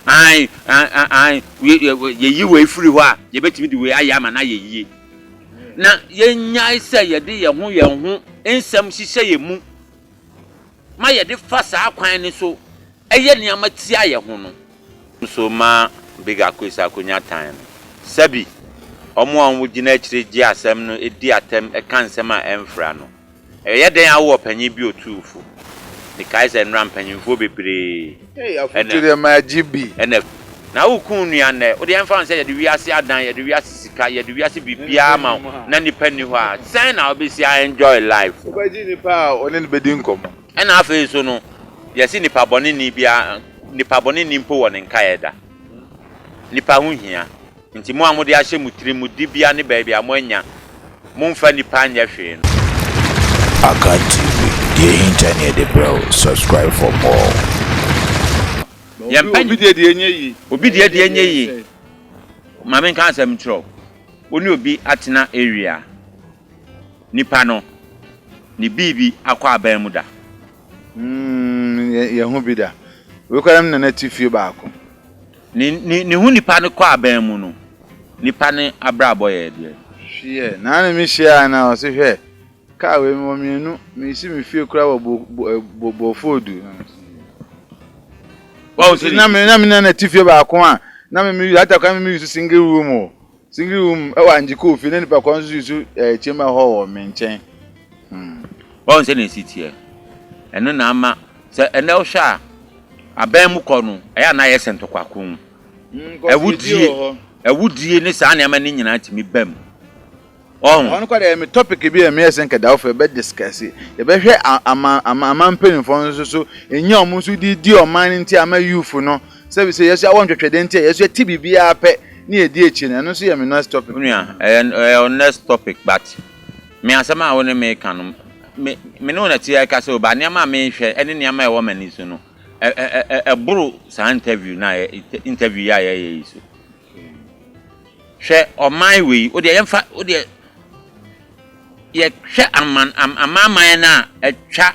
Aane, aane, yɛyi wei firi hɔ a, yɛbɛtumi de wei ayɛ ama no ayɛ yie. Na yɛnnyae sɛ yɛde yɛn ho yɛn ho nsɛm hyehyɛ yɛn mu ma yɛde fa saa kwan no so yɛ nneɛma tia yɛn ho no. Nso ma Big Akoes akɔnya tan no. Sɛbi, wɔn a wɔgyina akyire gye asɛm no di atɛm ka nsɛm a ɛmfra no, Ɛyɛ dɛn awo ɔpanyin bi otumfo? Mekae sɛ nnora mpanyimfoɔ bebree na. Na woku wo nua nnɛ. Wo deɛ ɛmfa ho sɛ yɛde wiase adan, yɛde wiase sika, yɛde wiase biribiara ma wo, na nipa nni hɔ a, sɛn na wobɛsi a enjoy life? Wobɛgye nipa a wo ne no bɛdi nkɔmmɔ? Ɛna afei nso no, yɛse nipa bɔne nni biara, nipa bɔne nni mpo wɔ ne nkaeɛ da. Nipa ho hia. Enti mo a mode ahyɛ mo tirim mo dibea ne baabi a moanya momfa nnipa nyɛ hwee no. Akan TV, deɛ ɛhinta ne yɛde brɛ wo, subscribe for more. Yɛmpɛ Obi deɛ deɛ ɛnyɛ yie. Obi deɛ deɛ ɛnyɛ yie. Ma me nka asɛm nkyerɛ wo. Wo ne obi atena area. Nipa no, ne biibi akɔ aban mu da. Umm yɛ yɛ ho bi da. Wei koraa na me nana te fie baako. Ne ne ne ho nipa no kɔ aban mu no nipa ne abrabɔ yɛ deɛ. Hwiɛ naa ne me hyiaa na ɔse hwɛ kaa wei mewɔ mmienu mesi me fie kura wɔ bo bo eh, bo bɔfoodu. Wɔn sɛ na me na me na na ti fie baako a na me me atakora me me yusu single room o Singiri wom wɔ Angye kɔɔ fie na nipa kɔn nso susu ɛɛ kyɛm a ɛhɔ wɔ me nkyɛn. Hmm. Wɔn sɛ na esi teɛ. Ɛno na ama sɛ ɛnɛ wohwɛ a aban mu kɔ no ɛyɛ a na ayɛ sɛ ntɔkwa ko. Hmm, kɔfie wɔ hɔ. Awudie ne saa nneɛma no nyinaa tumi ba mu. Ɔho. Ɔno kɔ deɛ ɛmi topic bi a ɛmi yɛ sɛ nka dawofo yɛbɛ discuss. Yɛbɛhwɛ ama ama ama mpanyinfoɔ nso so. Enya wɔn nso de di ɔman no nti ama youth no. Sɛ bi sɛ yɛsua wɔ nhwɛhwɛ dɛn nti a yɛsua ti biribiara pɛ na yɛdi akyi no ɛno nso yɛ me next topic. Onua, ɛyɛ ɛyɛ wo next topic but me asɛm a wo ne me reka no me me ne wo na ɛte ɛkasa o but nneɛma a merehwɛ ne nneɛma a ɛwɔ m'ani so no ɛ ɛ ɛ ɛboro saa interview no a yɛ interview yi a yɛreyɛ yi so. Hwɛ ɔman wei wo deɛ yɛmfa wo deɛ yɛhwɛ aman amanaman no a atwa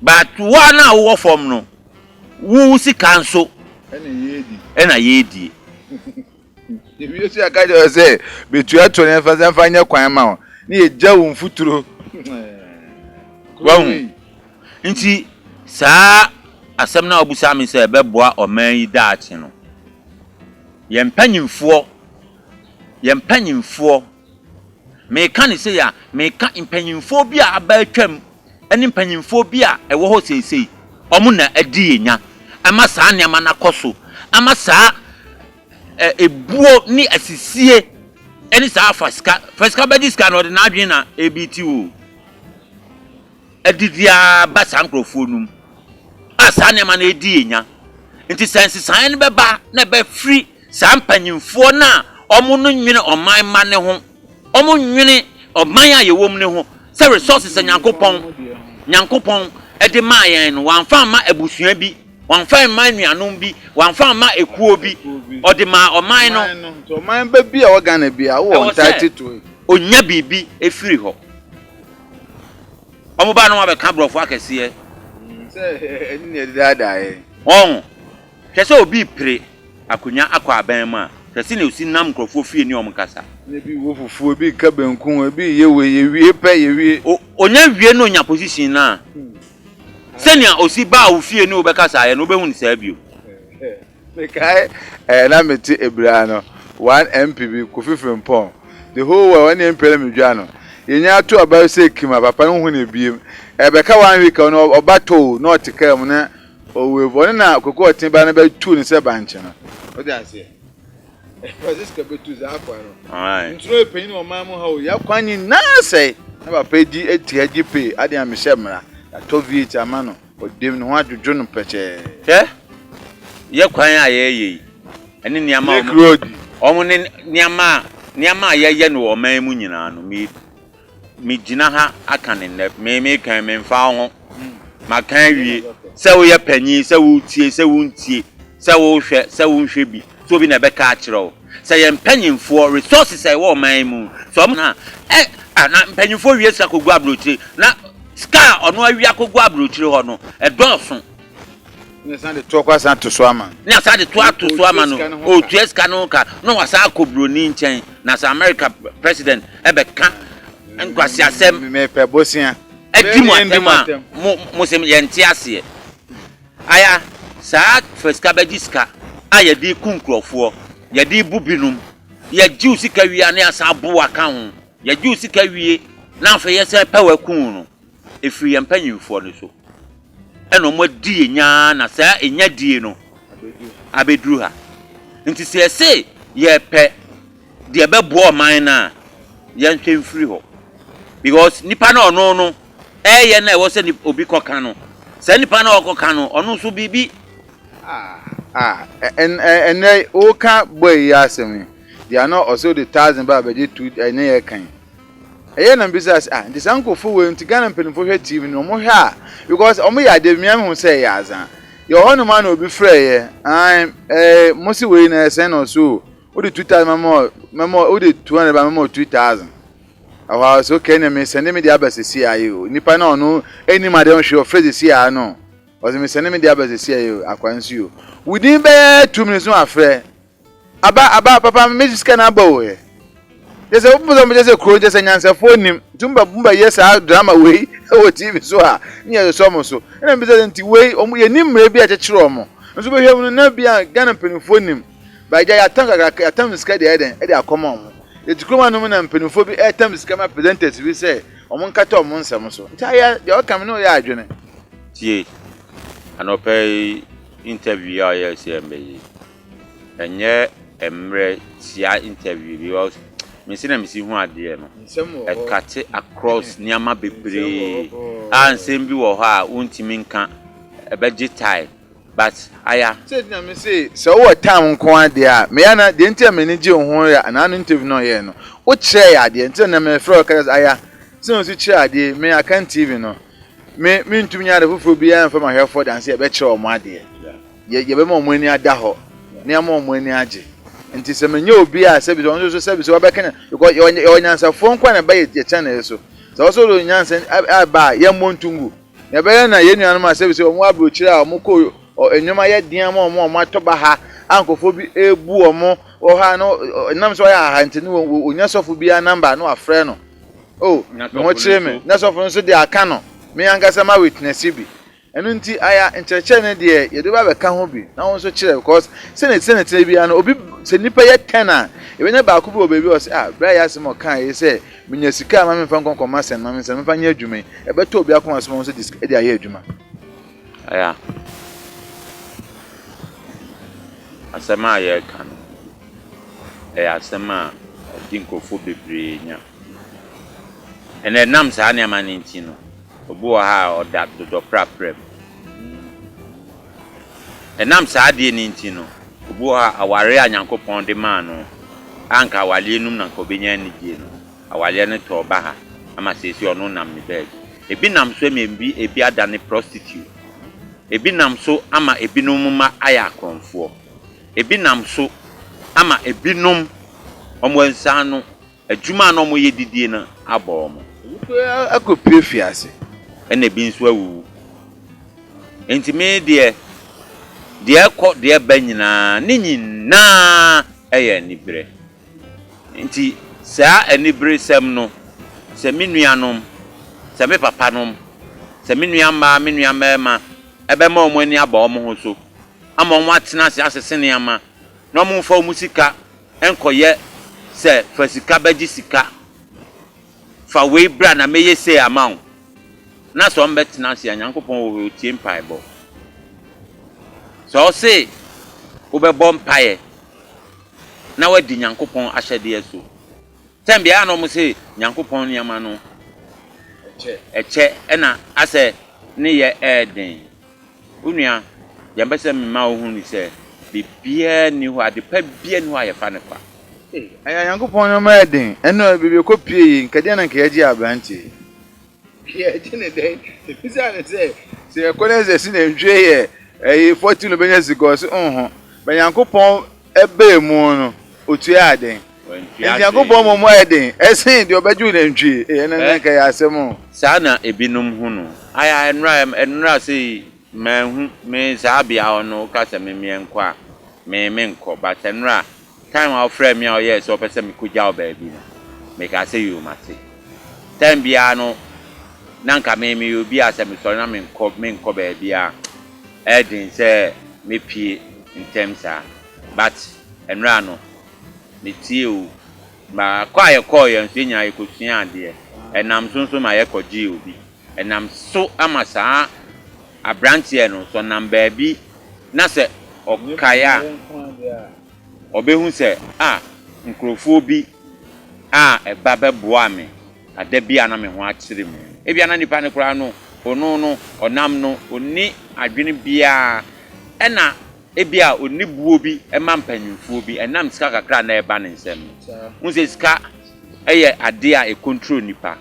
But woa no a wowɔ fam no wo sika nso ɛna yɛredie. Yɛwie so yɛka kyerɛ wo sɛ bɛtua to no yɛmfa sɛ mfa nyɛ kwan ma wo na yɛgya wo mfuturo. Wahu? Nti saa asɛm no a wobisa me sɛ ɛbɛboa ɔman yi daakye no yɛn mpanyimfoɔ yɛn mpanyimfoɔ Meka no sei a, meka mpanyimfoɔ bi a aba atwam ne mpanyimfoɔ bi a ɛwɔ hɔ seesei. Wɔn na adi yɛn nya ama saa nneɛma no akɔ so, ama saa ɛ ebuo ne asisie ne saa fa sika fa sika bɛgye sika no, ɔde n'adwene na ɛrebeati o, adidi ara ba saa nkurɔfoɔ no mu a saa nneɛma no redi yɛn nya. Nti sɛ nsesaeɛ no bɛba na ɛbɛfiri Saa mpanyimfoɔ no a wɔn no nwene ɔman mma no ho, wɔn nwene ɔman a yɛwɔ mu no ho, sɛ resources a Nyankopɔn, Nyankopɔn de maa yɛn no, wɔamfa amma abusua bi, wɔamfa mma anuanom bi, wɔamfa amma ekuo bi, ɔde maa ɔman no. Nti ɔman ba bi a ɛwɔ Ghana biara, wowɔ entitled to it. Ɔnya biribi firi hɔ. Wɔba no wɔabɛka aborɔfo akɛseɛ. Sɛ ɛno na ɛde daadaa yɛn. Wɔn. Hwɛ sɛ obi repre akonnwa akɔ aban mu a, hwɛ sɛnea osi nam nkurɔfoɔ fie ne wɔn kasa. Na ebi wɔ fufuo, ebi reka benku, ebi reyɛ wei, yɛwie pɛ, yɛwie. O, ɔnya wie na ɔnya position no a, sɛnea osi baa wo fie ne wo bɛkasaeɛ no, wobɛhu no saa bio. Mekae ɛɛ na mete Abira no, one MP bi, Kofi Frimpong, the whole world, ɔne MP na medwa no. Yɛnya ato aba sɛ kim a, papa no nhu no biem. Ɛbɛka one week a, ɔno ɔba tɔɔ o, na ɔte kaa mu na. Owe bɔne na koko ɔte ba no bɛtu no sɛ bankye no. Wode aseɛ? Francisca bɛtu saa akoa no. Nturo epanyin wɔ man mu ha o, yɛ kwan nyinaa sɛe. Na papa di ati ha gye pee, adeɛ a mehyɛ mmara. Yɛatɔ V8 ama no, ɔdam ne ho adwodwo no pɛkyɛɛ. Hwɛ, yɛ kwan a yɛreyɛ yi, ɛne nneɛma a wɔn, wɔn ne nneɛma a, nneɛma a yɛyɛ no wɔ ɔman mu nyinaa no, meyi Me gyina ha aka no nnɛ me me kan me nfa wo ho ma kan awie sɛ wo yɛ panyin sɛ wo tie sɛ wo ntie sɛ wo hwɛ sɛ wo nhwɛ bi sɛ obi na ɛbɛ ka akyerɛ wo sɛ yɛ mpanyinfoɔ resources a ɛwɔ ɔman mu sɛ ɔmo na ɛ a na mpanyinfoɔ wie sika kɔ gu abrokyire na sika a ɔno awia kɔ gu abrokyire hɔ no ɛdɔɔso. Na ɔsan de toɔ kɔ asan to so ama no. Na ɔsan de toɔ ato so ama no, ɔretua sika no ho ka, na wasan akɔ buroni nkyɛn. Na sɛ America president bɛka nkwaseasɛm. Mepɛ bosea. Di mo atɛm a, mo, mo se yɛnte aseɛ. Aya, saa fa sika bɛgye sika a yɛde reku nkurɔfoɔ, yɛde rebu binom, yɛgye wo sika wie a na yɛasan aboa ka ho, yɛgye wo sika wie na afei yɛsan repɛ wo akum wo no, Ɛfiri yɛn mpanimfoɔ no so na wɔadi yɛn nya ara na saa nya die no abɛduru ha. Nti sɛ yɛse yɛpɛ deɛ ɛbɛboa ɔman no a, yɛnhwɛ mfiri hɔ. Because nipa no a ɔno no ɛreyɛ no a ɛwɔ sɛ obi kɔka no, saa nipa no a ɔkɔka no ɔno nso biribi. Ɛnnɛ woka boy yi asɛm yi, deɛ na ɔse ɔde thousand ba abɛgye two ɛne yɛka yi. Ɛyɛɛ na mibisaa sɛ, ah, nti saa nkorɔfoɔ wei nti Ghana mpaninfoɔ hwɛ TV no, wɔn hwɛ a, because wɔn yɛ adeɛ bi, me ara me hu sɛ ɛyɛ adza. Yɛwɔ hɔ nom ara na obi frɛɛ yɛ, aane, ɛɛ, mo se wei no ɛyɛ sɛn na ɔse oo, wo de two thousand mɛma wo, mɛma wo, wo de two hundred ba mɛma wo two thousand. Ɛhɔ ara ɔse okay ɛneɛ me sɛnde me deɛ aba sesei ara yi oo, nipa no a ɔno nnim adeɛ ho hwee ɔfrɛ sesei ara no, ɔse me sɛnde me deɛ aba sesei ara yi oo, akwaa nsi oo. Within bɛyɛ two minutes no wafrɛ, Aba aba papa me mesi sika no aba o ɛ kyɛ sɛ wopɛ sɛ mo kyɛ sɛ kuro kyɛ sɛ nyansɛfoɔ nim nti mo bɛ yɛ saa drama wei wɔ tv so a ne yɛ sɔ mo so ɛna mbisa sɛ nti wei ɔmo yɛ nim mmerɛ bi a kyekyere ɔmo nso bɛhwɛ mu no na bi a Ghana mpanimfoɔ nim ba agya yɛatam kakra yɛatam sika deɛ ɛdɛn ɛde akɔma ɔmo yɛte kurom anom na mpanimfoɔ bi ɛtam sika ma presenters bi sɛ ɔmo nkata ɔmo nsɛm so nti ayɛ deɛ ɔka me ne ɔyɛ adwene. Tie anɔpa yi interview a ɔyɛɛ sɛ ɛmmɛ yi. Ɛnyɛ mmerɛ tia interview because me se na me si hu adeɛ no ɛkate across nneɛma bebree a nsɛm bi wɔ hɔ a wontumi nka ɛbɛgye time but aya. Sɛti na me se sɛ wowɔ time nko ara deɛ a me ya na deɛ nti a m'ani gye wo ho yɛ anaa ano interview no ɔyɛɛ no wo kyerɛɛ yɛ adeɛ nti na na me frɛ wo kasa aya sɛ na osi kyerɛ adeɛ me akan TV no me me ntumi nyɛ ade foforɔ biara mfa mahwɛfoɔ danse a ɛbɛkyerɛ wɔn adeɛ. yɛ yɛbɛma wɔn ani ada hɔ na yɛama wɔn ani agye nti sɛ menyɛ obi a sɛbi sɛ ɔno nso sɛbi sɛ ɔbɛka nya because yɛ ɔnyɛ yɛ ɔnyansafoɔ nko a na ɛba yɛ yɛ channel so sɛ ɔsɛ ɔde onyansa ɛba a yɛn mmɔ ntungu na ɛbɛyɛ na yɛn nuanom a sɛbi sɛ wɔn aburokyire a wɔn kɔ nneɛma yɛ den ama wɔn a wɔn atɔ ba ha a nkurɔfoɔ bi ebu wɔn wɔ ha no nam sɛ ɔyɛ aha nti no wɔ onya sɔfo bi a namba no afrɛ no o ne ho kyerɛ me na sɔfo no nso de aka no me ankasa ma witness bi Ɛno nti aya nkyerɛkyerɛ no deɛ yɛde ba bɛka ho bi na wo nso kyerɛ because sɛdeɛ ɛte sɛ na ɛtena biara no obi sɛ nipa yɛ ten a yɛbɛnya baako bi wɔ baabi a ɔsɛ ah bra yɛ asɛm a ɔkaa yɛ sɛ menya sika a ma memfa nkɔ nkɔ ma sɛn ma mensa memfa nyɛ adwuma yi ɛbɛtɔ obi akoma so ma wo nso de de ayɛ adwuma aya asɛm a yɛreka no ɛyɛ asɛm a ɛde nkurɔfoɔ bebree nya. Ɛnna ɛnam saa nneɛma no nti no, obi wɔ ha a ɔda dodɔprapra mu. Ɛnam saa adeɛ no nti no, obi wɔ ha a awareɛ a Nyankopɔn de maa no a anka awareɛ no mu na anka ɔbɛnya anigyeɛ no, awareɛ no tɔɔ baha ama seesei ɔno nam ne baabi. Ebi nam so ama ebi ebi adane prostitute. Ebi nam so ama ebinom mma ayɛ akorɔmfoɔ. Ebi nam so ama ebinom wɔansiane Adwuma a na wɔyɛ de die no abɔ wɔn. Ebi nso akɔpue afiase. Ɛnna ebi nso awuwu. Enti me deɛ, deɛ ɛkɔ, deɛ ɛba nyinaa, ne nyinaa yɛ anibere. Enti saa aniberesɛm no, sɛ me nuanom, sɛ me papanom, sɛ me nua mmaa, me nua mmarima, ɛbɛma wɔn ani aba wɔn ho so, ama wɔatena ase asese nneɛma, na wɔmfa wɔn sika Nkɔyɛ sɛ fa sika bɛgye sika, fa wei bra na mɛyɛ sei ama wo, na sɛ ɔmbɛtena ase a, Nyankopɔn wɔ hɔ, Otie mpaebɔ. Sɛ Ɔse wobɛbɔ mpaeɛ na wadi Nyankopɔn ahyɛdeɛ so, sɛ mbea a na ɔmo se Nyankopɔn nneɛma no ɛkyɛ ɛna asɛ ne yɛ ɛɛden, Wo nua, deɛ mpɛ sɛ mema wo hunu ne sɛ, biribiara nni hɔ, ade pa biara nni hɔ a yɛfa no kwa. Ee, ɛyɛ Onyankopɔn nneɛma a ɛyɛ den. Ɛno ɛ, baabi a ɛkɔpue yi, nka ɛdeɛn na nka yɛagye aberante yi? Yɛagye no dɛn? Ɛsiane sɛ, sɛ yɛkɔ na yɛsɛ sɛ nantwie yɛ ɛyi, fɔtil no bɛnya sika, ɔse, Onho, bɛ Nyankopɔn. Ɛbaa mu no, otuaa dɛn? Wantua hwee. Onyankopɔn mmom ayɛ den sen deɛ ɔbɛgye wo nantwie. Ei, ɛno ne nka ɛyɛ asɛm o. Saa na ebinom hu no. Ayɛ a nnora yɛ, nnora sei, manhu, me saa bea hɔ no, woka sɛ me meɛnkɔ a, me menkɔ. But nnora, time a wofrɛɛ me a woyɛɛ sɛ wopɛ sɛ mekɔgya wo baabi no, mekaa sɛ yoo, mate. Time biara no, na nka me meyɛ obi a sɛ mesɔre na menkɔ, menkɔ baabiara. Ɛyɛ den sɛ mɛpue ntɛm saa but ɛnora no me tie o ma kɔ a yɛ kɔɔyɛ nso yɛ nyinaa yɛ kɔ sua adeɛ ɛnam so nso ma yɛ kɔ gyee obi ɛnam so ama saa abranteɛ no sɛ ɔnam baabi na sɛ ɔkae a ɔbɛhu sɛ ah nkurofoɔ bi a ɛba bɛboa me. Na da biara na me ho akyere me. Ebia na nipa no koraa no, ono no, ɔnam no, onni adwene biara. Ɛna ebia onni boɔ bi ma mpanyinfoɔ bi, ɛnam sika kakra a na ɛba ne nsam no. Wohu sɛ sika yɛ adeɛ a ɛcontrol nipa.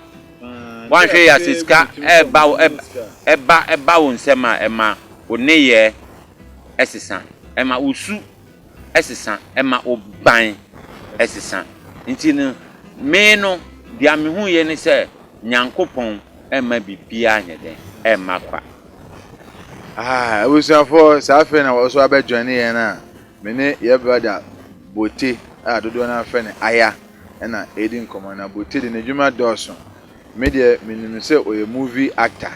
Woanhwɛ yie a sɛ sika ɛba wo, ɛba, ɛba wo nsam a, ɛma wo nneyɛɛ ɛsesa. Ɛma wo su. sesa, ɛma wo ban sesa. Nti no, me no, deɛ mehuiɛ ne sɛ, Nyankopɔn mma biribiara nyɛ dɛn? Mma kwa. Ah, abusuafoɔ, saa afei na wɔso abɛ joine yɛn a, me ne yɛ brother Bote a dodoɔ no ara frɛ no Aya ɛna ɛredi nkɔmmɔ. Na Bote de n'adwuma dɔɔso. Me deɛ menim no sɛ ɔyɛ movie actor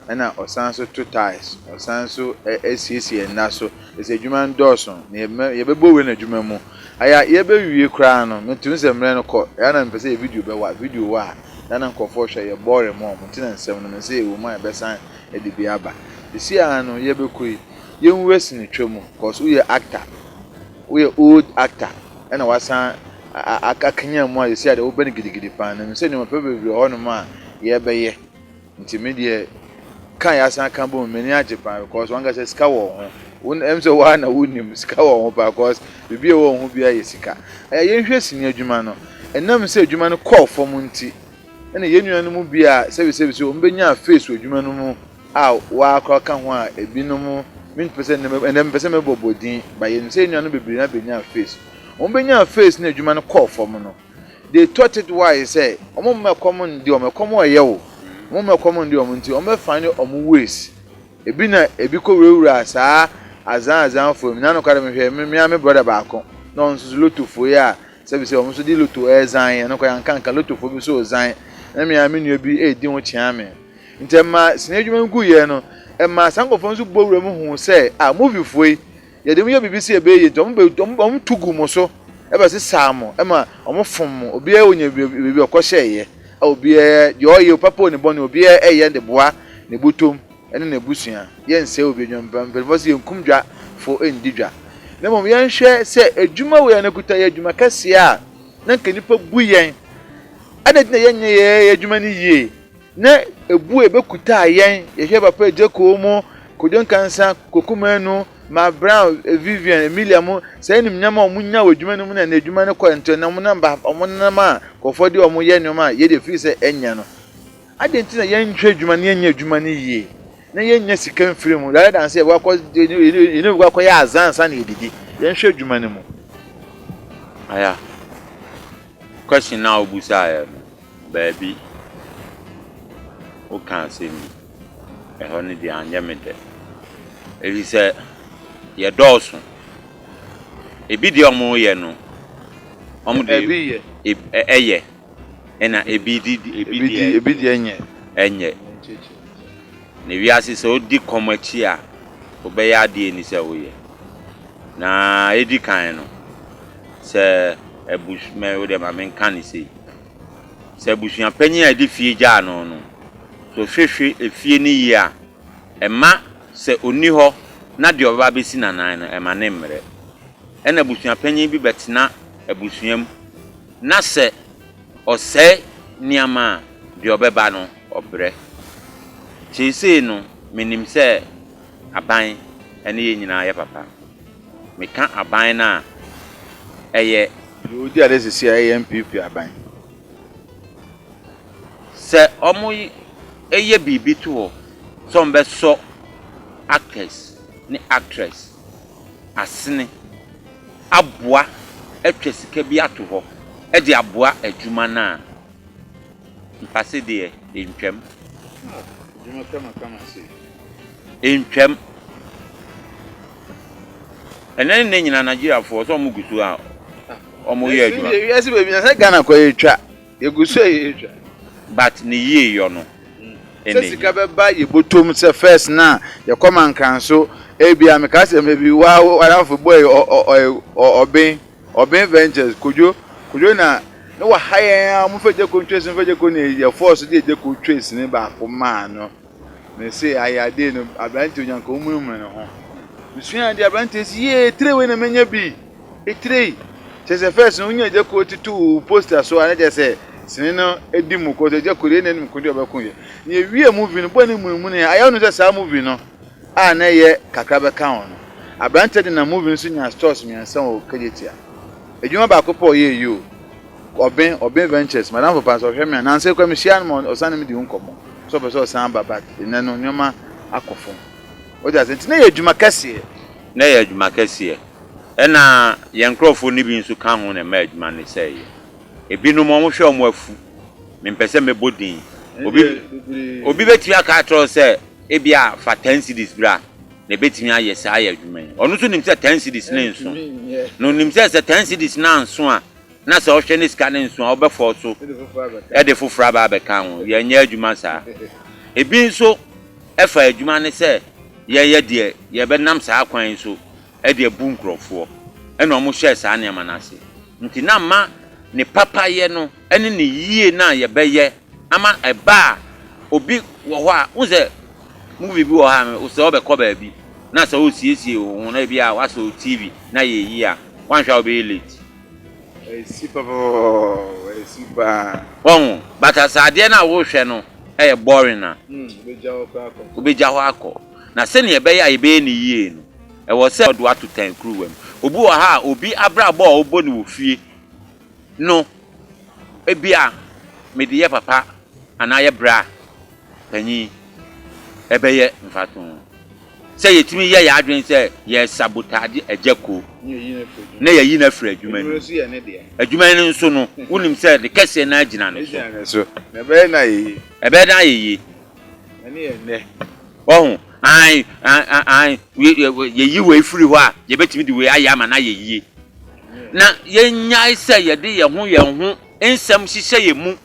ɛna ɔsan nso to tiles ɔsan nso siesie nna so ɛsɛ adwuma no dɔɔso na yɛbɛbɔ wei no adwuma mu aya yɛbɛwie koraa no me tumi sɛ mmerɛ no kɔ ɛyɛ na mepɛ sɛ yɛ video bɛwa video wɔ a ɛyɛ na nkurɔfoɔ hwɛ yɛ bɔɔre mɔ mo nti na nsɛm no me sɛ yɛwɔ mu a yɛbɛsan ɛde bi aba ɛsi a no yɛbɛkɔ yi yɛnwura sinitwa mu cause woyɛ actor woyɛ old actor. na wɔasan akanyan mu a yɛsi a deɛ wobɛ no gidigidi paa na mesɛ nneɛma pɛ bebree hɔ nom a yɛbɛyɛ nti me deɛ kan yɛasan aka bom m'ani agye paa because wankasa sika wɔ ho won ɛm sɛ waa na wonim sika wɔ ho paa because biribi a ɛwɔ ho biara yɛ sika ɛyɛ yɛnhwɛ sini adwuma no ɛnam sɛ adwuma no kɔɔ fam nti ɛna yɛn nua no mu bi a sɛbisɛbi sɛ wɔn bɛnya face wɔ adwuma no mu a wɔakora ka ho a binom mmpɛ sɛ ndɛ ndɛ mepɛ sɛ mobɔbɔ dzin, but yenyim sɛ enuanom beberee no abenyaa face. Wɔbenyaa face na edwuma no kɔr famu no, they thought it wise sɛ wɔmma kɔm nndze wɔn, kɔm reyɛ wo, wɔmma kɔm nndze wɔn ntsi wɔbɛ find wɔn ways, bi na bi kowurawuraa saa adzaa adzaa fua mu, na nokwar mehwɛ me me ara me brɔda baako na ɔno so dze lotto fua yi a sɛ bi sɛ wɔn so dze lotto redzan yɛ, nokwar yɛannka annka, lottofua bi so redzan na me ara me nua bi redzi ho kyea me. Ntsi ɛma sini edwuma no gu yɛɛ no, ɛma saa nkorɔfoɔ no so bɔ wura mu hu sɛ ah movie foɔ yi yɛde ɔmo yɛ biribi sɛ yɛbɛyɛ yie ntsi ɔmo bɛ ɔmo ɔmo to gu mo so ɛbɛ sesaa mo ɛma ɔmo fom mo obiara onya biribi ɔkɔ hyɛ yɛ a obiara deɛ ɔyɛ o papa o ne bɔne obiara ɛyɛ de boa ne botom ɛne n'abusua yɛ nsɛɛ obi adwuma mpa mpaninfoɔ se yɛ nkum dwa fo ndi dwa na mmom yɛ nhwɛ sɛ adwuma wei a na kuta yɛ adwuma kɛseɛ a na nka nipa bu yɛn adɛn nti na yɛ nyɛ yɛ adwuma no yie. Ne bue bɛkutaa yɛn, yɛhwɛ papa Jeko mo, Kojo Nkansa, Koku Manu, Mark Brown, Vivian, Emilia mo, saa animuonyam a wɔn nyaa wɔ adwuma no mu na na adwuma no kɔ ntɛn na wɔn nam ba wɔn nenam a nkurɔfoɔ de wɔn yɛ nneɛma a yɛn deɛ ɛfiri sɛ ɛnyɛ no. Adɛn nti na yɛn nhwɛ adwuma no yɛnyɛ adwuma no yie na yɛn nya sika mfiri mu rather than sɛ yɛbɛkɔ akɔ yɛne obi kɔ akɔ yɛ azan ansa na yɛdidi yɛn nhwɛ adwuma no mu. Aya question na wo busaeɛ no. baabi woka asɛm bi, ɛhɔ no deɛ anyɛ me dɛ. Ɛfiri sɛ, yɛdɔɔso. Ebi deɛ wɔyɛ no, wɔn deɛ ebi yɛ, ɛyɛ, ɛna ebi di ebi deɛ ebi deɛ nyɛ, ɛnyɛ. Na wiase sɛ odi kɔm akyi a wobɛyɛ ade a enni sɛ woyɛ. Na edi kan no, sɛ abus mɛ wo deɛ ma menka no sei, sɛ abusuapanyin a ɛde fie gyaa no no sɛ ɔhwehwe efie no yie a, ɛmma sɛ onni hɔ na deɛ ɔbɛba abɛsi n'anan no ɛmma ne mmrɛ. Ɛna abusuapanyin bi bɛtena abusua mu. Na sɛ ɔsɛe nneɛma a, deɛ ɔbɛba no, ɔbrɛ. Seesei no, menim sɛ aban ne yɛn nyinaa yɛ papa. Meka aban no a, ɛyɛ. Deɛ ɔdi adeɛ seesei a, ɛyɛ NPP aban. Sɛ wɔyɛ biribi to hɔ sɛ wɔbɛsɔ actors ne actress. asene aboa atwa sika bi ato hɔ de aboa adwuma no a, mpase deɛ ɛntwam. Ah, adwuma kamakama sei. Ɛntwam. Ɛnɛ ne nyina Nigeriafoɔ sɛ wɔn gu so a wɔn yɛ adwuma. Wiase baabi na sɛ Ghana kɔ yɛ twa. Yegu so yɛ edwa. But ne yie yɔ no na ehia. Sɛ sika bɛba yɛbɔtɔ mu sɛ first no a yɛkɔ ma nkranso ebia meka sɛ maybe wo ara wo adamfo bɔɔ yi ɔɔ ɔben ɔben ventures Kojo Kojo na na waha yɛn ara momfa Gyeko ntwesi momfa Gyeko ne yɛ force de Gyeko ntwesi no baako maa no Mese ayɛ adee no aberanteɛ onyanka womunumunu ne ho mesua adeɛ aberanteɛ si yie tire wei na menya bi etire yi kyɛ sɛ first no wonya agya kuo tutu wo poster so a na kyɛ sɛ sini no edi mu kɔ sɛ agya kuo deɛ na anim ko deɛ ɔbɛko yɛ na ewie movie no bɔ ne munumunu yɛ ayɛ no sɛ saa movie no a na ɛyɛ kakra bɛka ho no aberanteɛ de na movie no so nya stores mmiɛnsa wɔ kagyetia adwuma baako pɔ ɔyɛ yi o Ɔben Ɔben Ventures m'adamfo paa, sɛ ɔhwɛ me a, nnansa yi koraa mihyia no ma ɔsan ne me di ho nkɔmmɔ sɛ ɔpɛ sɛ ɔsan ba but nnɛ no nneɛma akɔ fam. Wote ase? Nti na ɛyɛ adwuma kɛseɛ. Na ɛyɛ adwuma kɛseɛ. Ɛna yɛn nkurɔfoɔ no bi nso ka ho na ɛmaa adwuma no sɛeeɛ. Ebinom wɔhwɛ wɔn afu. Mempɛ sɛ mɛbɔ din. Obi, obi bɛtumi aka akyerɛ wo sɛ ebia fa ten cedis bra. na ebetumi ayɛ saa ayɛ adwuma yi. Ɔno nso nim sɛ ten cedis no nso, na onim sɛ sɛ ten cedis no anso a, na sɛ ɔhwɛ ne sika no nso a, ɔbɛfɔw so de foforo aba abɛka ho. Yɛnyɛ adwuma saa. Ebi nso fa adwuma no sɛ yɛyɛ deɛ yɛbɛnam saa kwan yi so de abu nkurɔfoɔ, ɛnna wɔhyɛɛ saa nneɛma no ase. Enti na mma ne papayɛ no ne ne yie no a yɛbɛyɛ Ama ɛba a obi wɔ hɔ a, wohu sɛ movie bi wɔ hɔ a no, sɛ wobɛkɔ baabi na sɛ woresiesie wo ho na ebia woasɔ wo TV na yɛreyi a, woanhwɛ a wobɛyɛ late. Ɛsi papapapapapaw, ɛsi paa. Wahu? But sɛ adeɛ no a worehwɛ no yɛ boring a, Wobɛgya hɔ koraa akɔ. wobɛgya hɔ akɔ. Na sɛnea ɛbɛyɛ a yɛbɛyɛ no yie no, ɛwɔ sɛ. Wɔde wo ato tan kuruwa mu. Obi wɔ ha a, obi abrabɔ a ɔbɔ no wɔ fie. no, ebia mede yɛ papa anaa yɛ bra panyin. Ɛbɛyɛ mfatoho sɛ yetumi yɛ yɛn adwene sɛ yɛresabotagye agya kuo na yɛayi no afiri adwuma no mu. Adwuma no nso no, wonim sɛ ne kɛseɛ no ara gyina ne so. Ɛbɛyɛ dɛn ayɛ yie? Ɛbɛyɛ dɛn ayɛ yie? Ɛne yɛn nnɛ. Wahu? Aane, aane, aane. Yɛyi wei firi hɔ a, yɛbɛtumi de wei ayɛ ama no ayɛ yie. na yɛnnyae sɛ yɛde yɛn ho yɛn ho nsɛm hyehyɛ yɛn mu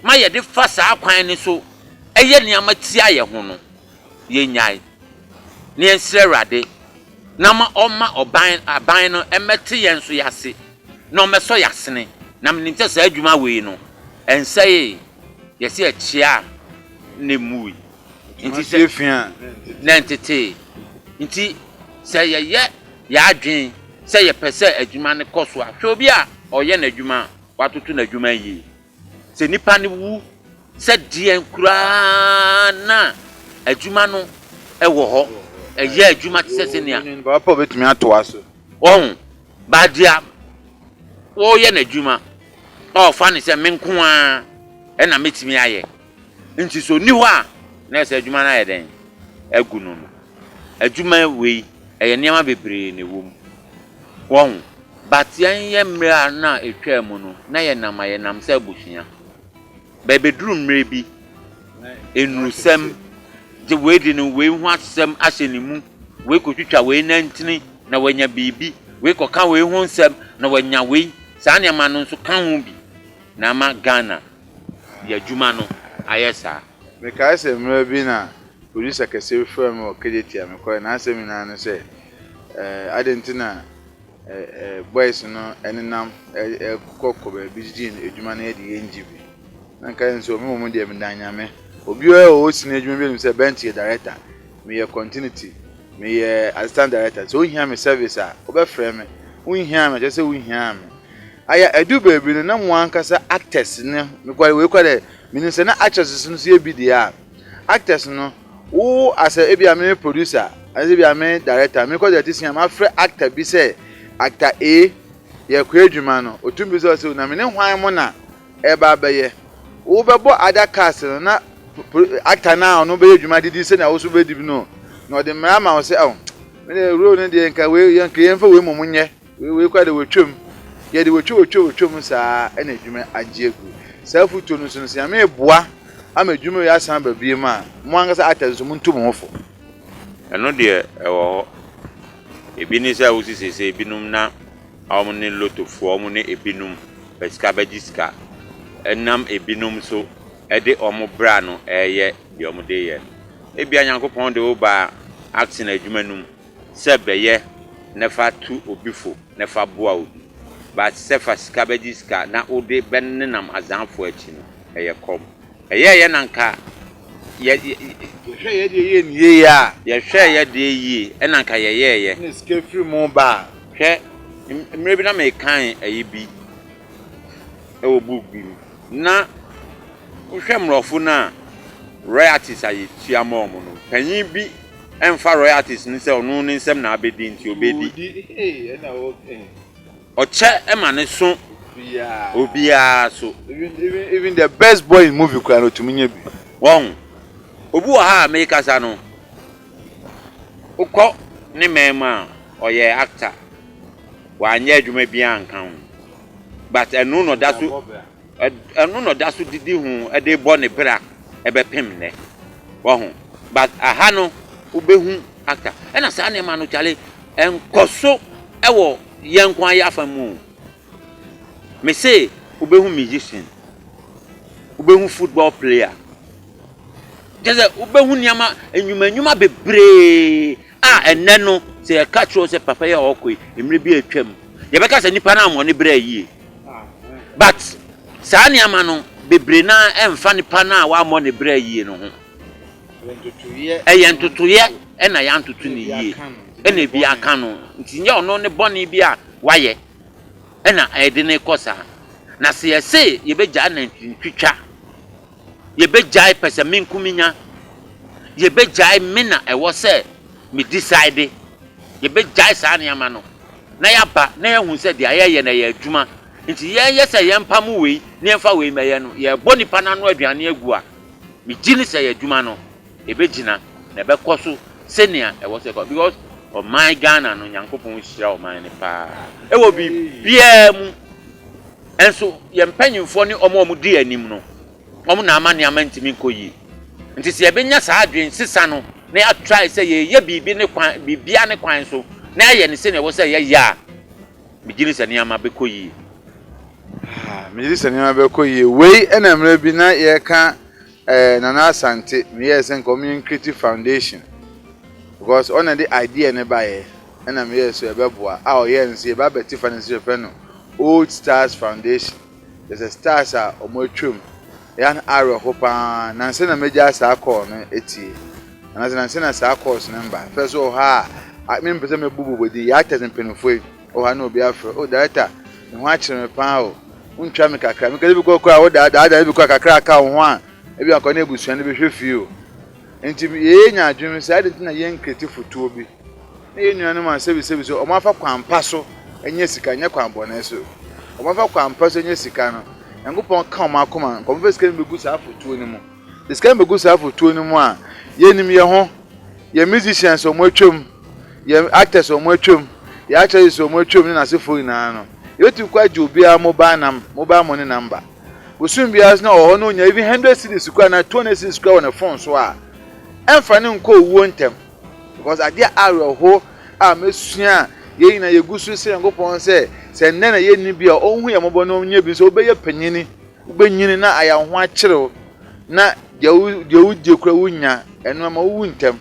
ma yɛde fa saa kwan no so yɛ nneɛma tia yɛn ho no, yɛnnyae, na yɛnsrɛ Awurade na ma ɔmma ɔban, aban no mmɛte yɛn nso yɛn ase, na ɔmmɛsɔ yɛn asene. Na menim sɛ saa adwuma wei no, ɛnsɛee, yɛse ɛkyeaa na ɛmmuui. Nti sɛ. Suasua. Na ntetee. Nti sɛ yɛyɛ yɛn adwene sɛ yɛpɛ sɛ adwuma no kɔ so a, hwɛ obi a ɔreyɛ n'adwuma a watoto n'adwuma yiye. Sɛ nnipa no wu sɛ deɛn koraa na adwuma no wɔ hɔ, ɛyɛ adwuma te sɛ sɛnea. Onyin ba pa betumi atoa so. Wɔn, ba deɛ ɔreyɛ n'adwuma a ɔfa no sɛ me nko ara na mɛtumi ayɛ. Enti sɛ ɔnni hɔ a, na ɛsɛ sɛ adwuma no ayɛ dɛn? Agu no no. Adwuma wei, ɛyɛ nneɛma bebree na ɛwɔ mu. Wahu? But yɛnyɛ mmerɛ a na ɛtwaa mu no, na yɛnam a yɛnam sɛ abusua. But ɛbɛduru mmerɛ bi, nnurusɛm, gye wei de no wei ho asɛm ahyɛ ne mu, wei kɔtwitwa wei nantini na wanya biribi, wei kɔka wei ho nsɛm na wanya wei, saa nneɛma no nso ka ho bi na ama Ghana de adwuma no ayɛ saa. Mekae sɛ mmerɛ bi na producer kɛseɛ bi frɛɛ me wɔ Kejetia, mekɔeɛ, n'asɛm nyinaa ne sɛ, eh, adɛn nti na eh, eh, boys no nenam kɔ kɔ baabi gyegye adwuma no yɛ de yɛngye bi. Na nka yɛn nso, me mmom deɛ meda Nyame. Obiara a ɔwɔ sini adwuma bi anim sɛ Bent yɛ director, meyɛ continuity, meyɛ assistant director, sɛ wohia me service a, wobɛfrɛ me, wonhiaa me a, kyerɛ sɛ wonhiaa me. Aya, edu beebi no na moankasa actors no, nokwar wei koraa dɛ minyim sɛ na actresses no so yɛ bi dze a, actors no wo asɛ ebia me me producer anaa ebia me director mekɔ dze etsisua mafrɛ actor bi sɛ actor A yɛkɔ edwuma no otum bisa wo sɛ na mene hwan mo na ereba abɛyɛ? Wo bɛbɔ other cast no na actor no a ɔno bɛyɛ edwuma dze di sɛnea wo so bɛdi bi no na ɔdze mbra ama wo sɛ oh me de role no deɛ nka wei yɛnka yɛmfa wei mmom nyɛ. Wei wei koraa deɛ wɔtwam. Yɛde wɔtwa wɔtwa wɔtwa mu saa ɛna adwuma agye agu. Saa afutuo no nso no sɛ nyame reboa ama adwuma wei asan aba biem a, mo ankasa actors nso montu mo ho fo. Ɛno deɛ ɛwɔ hɔ. Ebi ne sɛ wosi seesei ebinom na wɔn ne lotofoɔ wɔn ne ebinom pɛ sika bɛgye sika. Ɛnam ebinom so de wɔn bra no reyɛ deɛ wɔde reyɛ no. Ebia Nyankopɔn de wo baa acting adwuma no mu. Sɛ bɛyɛ na fa tu obi fo na fa boa obi, but sɛ fa sika bɛgye sika na wode bɛnenam adzaanfoɔ akyi no, ɛyɛ kɔm. Ɛyɛɛ yɛn na nka yɛ, yɛ, Yɛhwɛɛ yɛ deɛ yie no yie a. Yɛhwɛɛ yɛ deɛ yie ɛna nka yɛyɛɛ yɛ. Na sika firi mu ba a. Hwɛ, mmerɛ bi na mekan ɛyi bi wɔ book bi mu, na wohwɛ mmorɔfo no a, royalties a yɛtua ma wɔn no, panyin bi ɛmfa royalties no sɛ ɔno ne nsam na abɛdi nti ɔbɛdi. Ɔkyɛ ma no so obiara so. Even the best boy in movie koraa no ɔtumi nya bi. Wahu? Obi wɔ ha a merekasa no, wokɔ ne man mu a, ɔyɛ actor, wanyɛ adwuma biara anka ho but ɛno na ɔda so. Ɛno na ɔda so didi ho de bɔ ne bra bɛpem nnɛ. Wahu? But aha no, wobɛhu actor. Ɛna saa nneɛma no kyale, nkɔso wɔ yɛn nko ara yɛ afa mu. Mese wobɛhu musician, wobɛhu football player. Kyɛ sɛ wobɛhu nneɛma, nnwuma nnwuma bebree A Ɛnnɛ no, sɛ yɛka kyerɛ wo sɛ papa yi a ɔkɔ yi, mmerɛ bi a atwa mu, yɛbɛka sɛ nipa no ammɔ ne brɛ yie. But saa nneɛma no, bebree no ara mfa nipa no a wammɔ ne brɛ yie no ho. Ɛyɛ ntotoeɛ ɛna yɛantoto no yie ɛna ebi aka no. Nti nyɛ ɔno ne bɔne bi a wayɛ ɛna ɛde no rekɔ saa. Na sɛ yɛse yɛbɛgyae nantwitwitwa. Yɛbɛgyae pɛsɛmenkominya? Yɛbɛgyae me na ɛwɔ sɛ me decide? Yɛbɛgyae saa nneɛma no na yɛaba na yɛahu sɛ deɛ yɛreyɛ no ɛyɛ adwuma nti yɛnyɛ sɛ yɛmpamo wei na yɛmfa wei mmɛyɛ no yɛrebɔ nnipa no ano aduane agu a, megye ne sɛ yɛn adwuma no ɛbɛgyina na ɛbɛkɔ so sɛnea ɛwɔ sɛ ɛkɔ because ɔman Ghana no Nyankopɔn nhyira ɔman no paa ɛwɔ biribiara mu. Nso yɛn mpanyimfoɔ ne wɔn a wɔdi yɛn anim no, wɔn na ama nneɛma ntumi nkɔ yie. Nti sɛ yɛbɛnya saa adwensesa no na yɛatrae sɛ yɛreyɛ biribi ne kwan, biribiara ne kwan so na yɛayɛ no sɛnea ɛwɔ sɛ yɛyɛ a, megye di sɛ nneɛma bɛkɔ yie. Ah, megye di sɛ nneɛma bɛkɔ yie. Wei na mmerɛ bi na yɛreka eh, Nana Asante, meyɛɛ sɛ nka wɔnyɛ Nkreti Foundation because ɔna de idea no baeɛ. na meyɛɛ so ɛbɛboa a ɔyɛɛ no sɛ yɛbɛ abɛte fa no nso yɛfrɛ no old stars foundation kyerɛ sɛ stars a wɔn atwam ɛyɛ no awerɛho paa nansa na mɛgya saa kɔɔ no atie nansa nansa na saa kɔɔs no mba fɛ so wɔ ha a mempɛ sɛ mɛbu bobɔ din yɛ atɛs mpanimfoɔ yi wɔ ha na obi afrɛ o director ne ho akyerɛ me paa o wontwa me kakra meka de bi kɔ kora wo daadaa ne bi kɔ kakra aka wo ho a ebi akɔ ne abusua no bɛhwɛ fie o nti yɛyɛ nya adwene sɛ ade nti na yɛn kreti fotoɔ bi Na yɛn nuanom a sɛbisɛbi sɛ wɔafa kwan pa so anya sika, nyɛ kwan bɔne so, wɔafa kwan pa so anya sika no, Nyankopɔn ka wɔn akoma, nka wɔmfa sika no bɛgu saa afotuo no mu. De sika no bɛgu saa afotuo no mu a, yɛnim yɛn ho, yɛn musicians a wɔatwam, yɛn actors a wɔatwam, yɛn actresses a wɔatwam ne n'asefoɔ nyinaa no, yɛbɛtumi kɔ agye obiara mobile nam, mobile money number. Bosome biara nso na ɔhɔ no ɔnya even 100 cedis koraa anaa 200 cedis koraa wɔ ne phone so a, ɛmfa no nkɔ owuo ntɛm. Because ade a awerɛhow a mesua a yɛn nyinaa yegu so srɛ Nyankopɔn sɛ sɛ nnɛ na yɛnni bi a ɔnhu yɛn mmɔbɔ na ɔnyɛ bi nso wobɛyɛ panyin, wobɛnyini na ayɛ wo ho akyere wo na deɛ wodie kora wonya ɛno ama wowu ntɛm.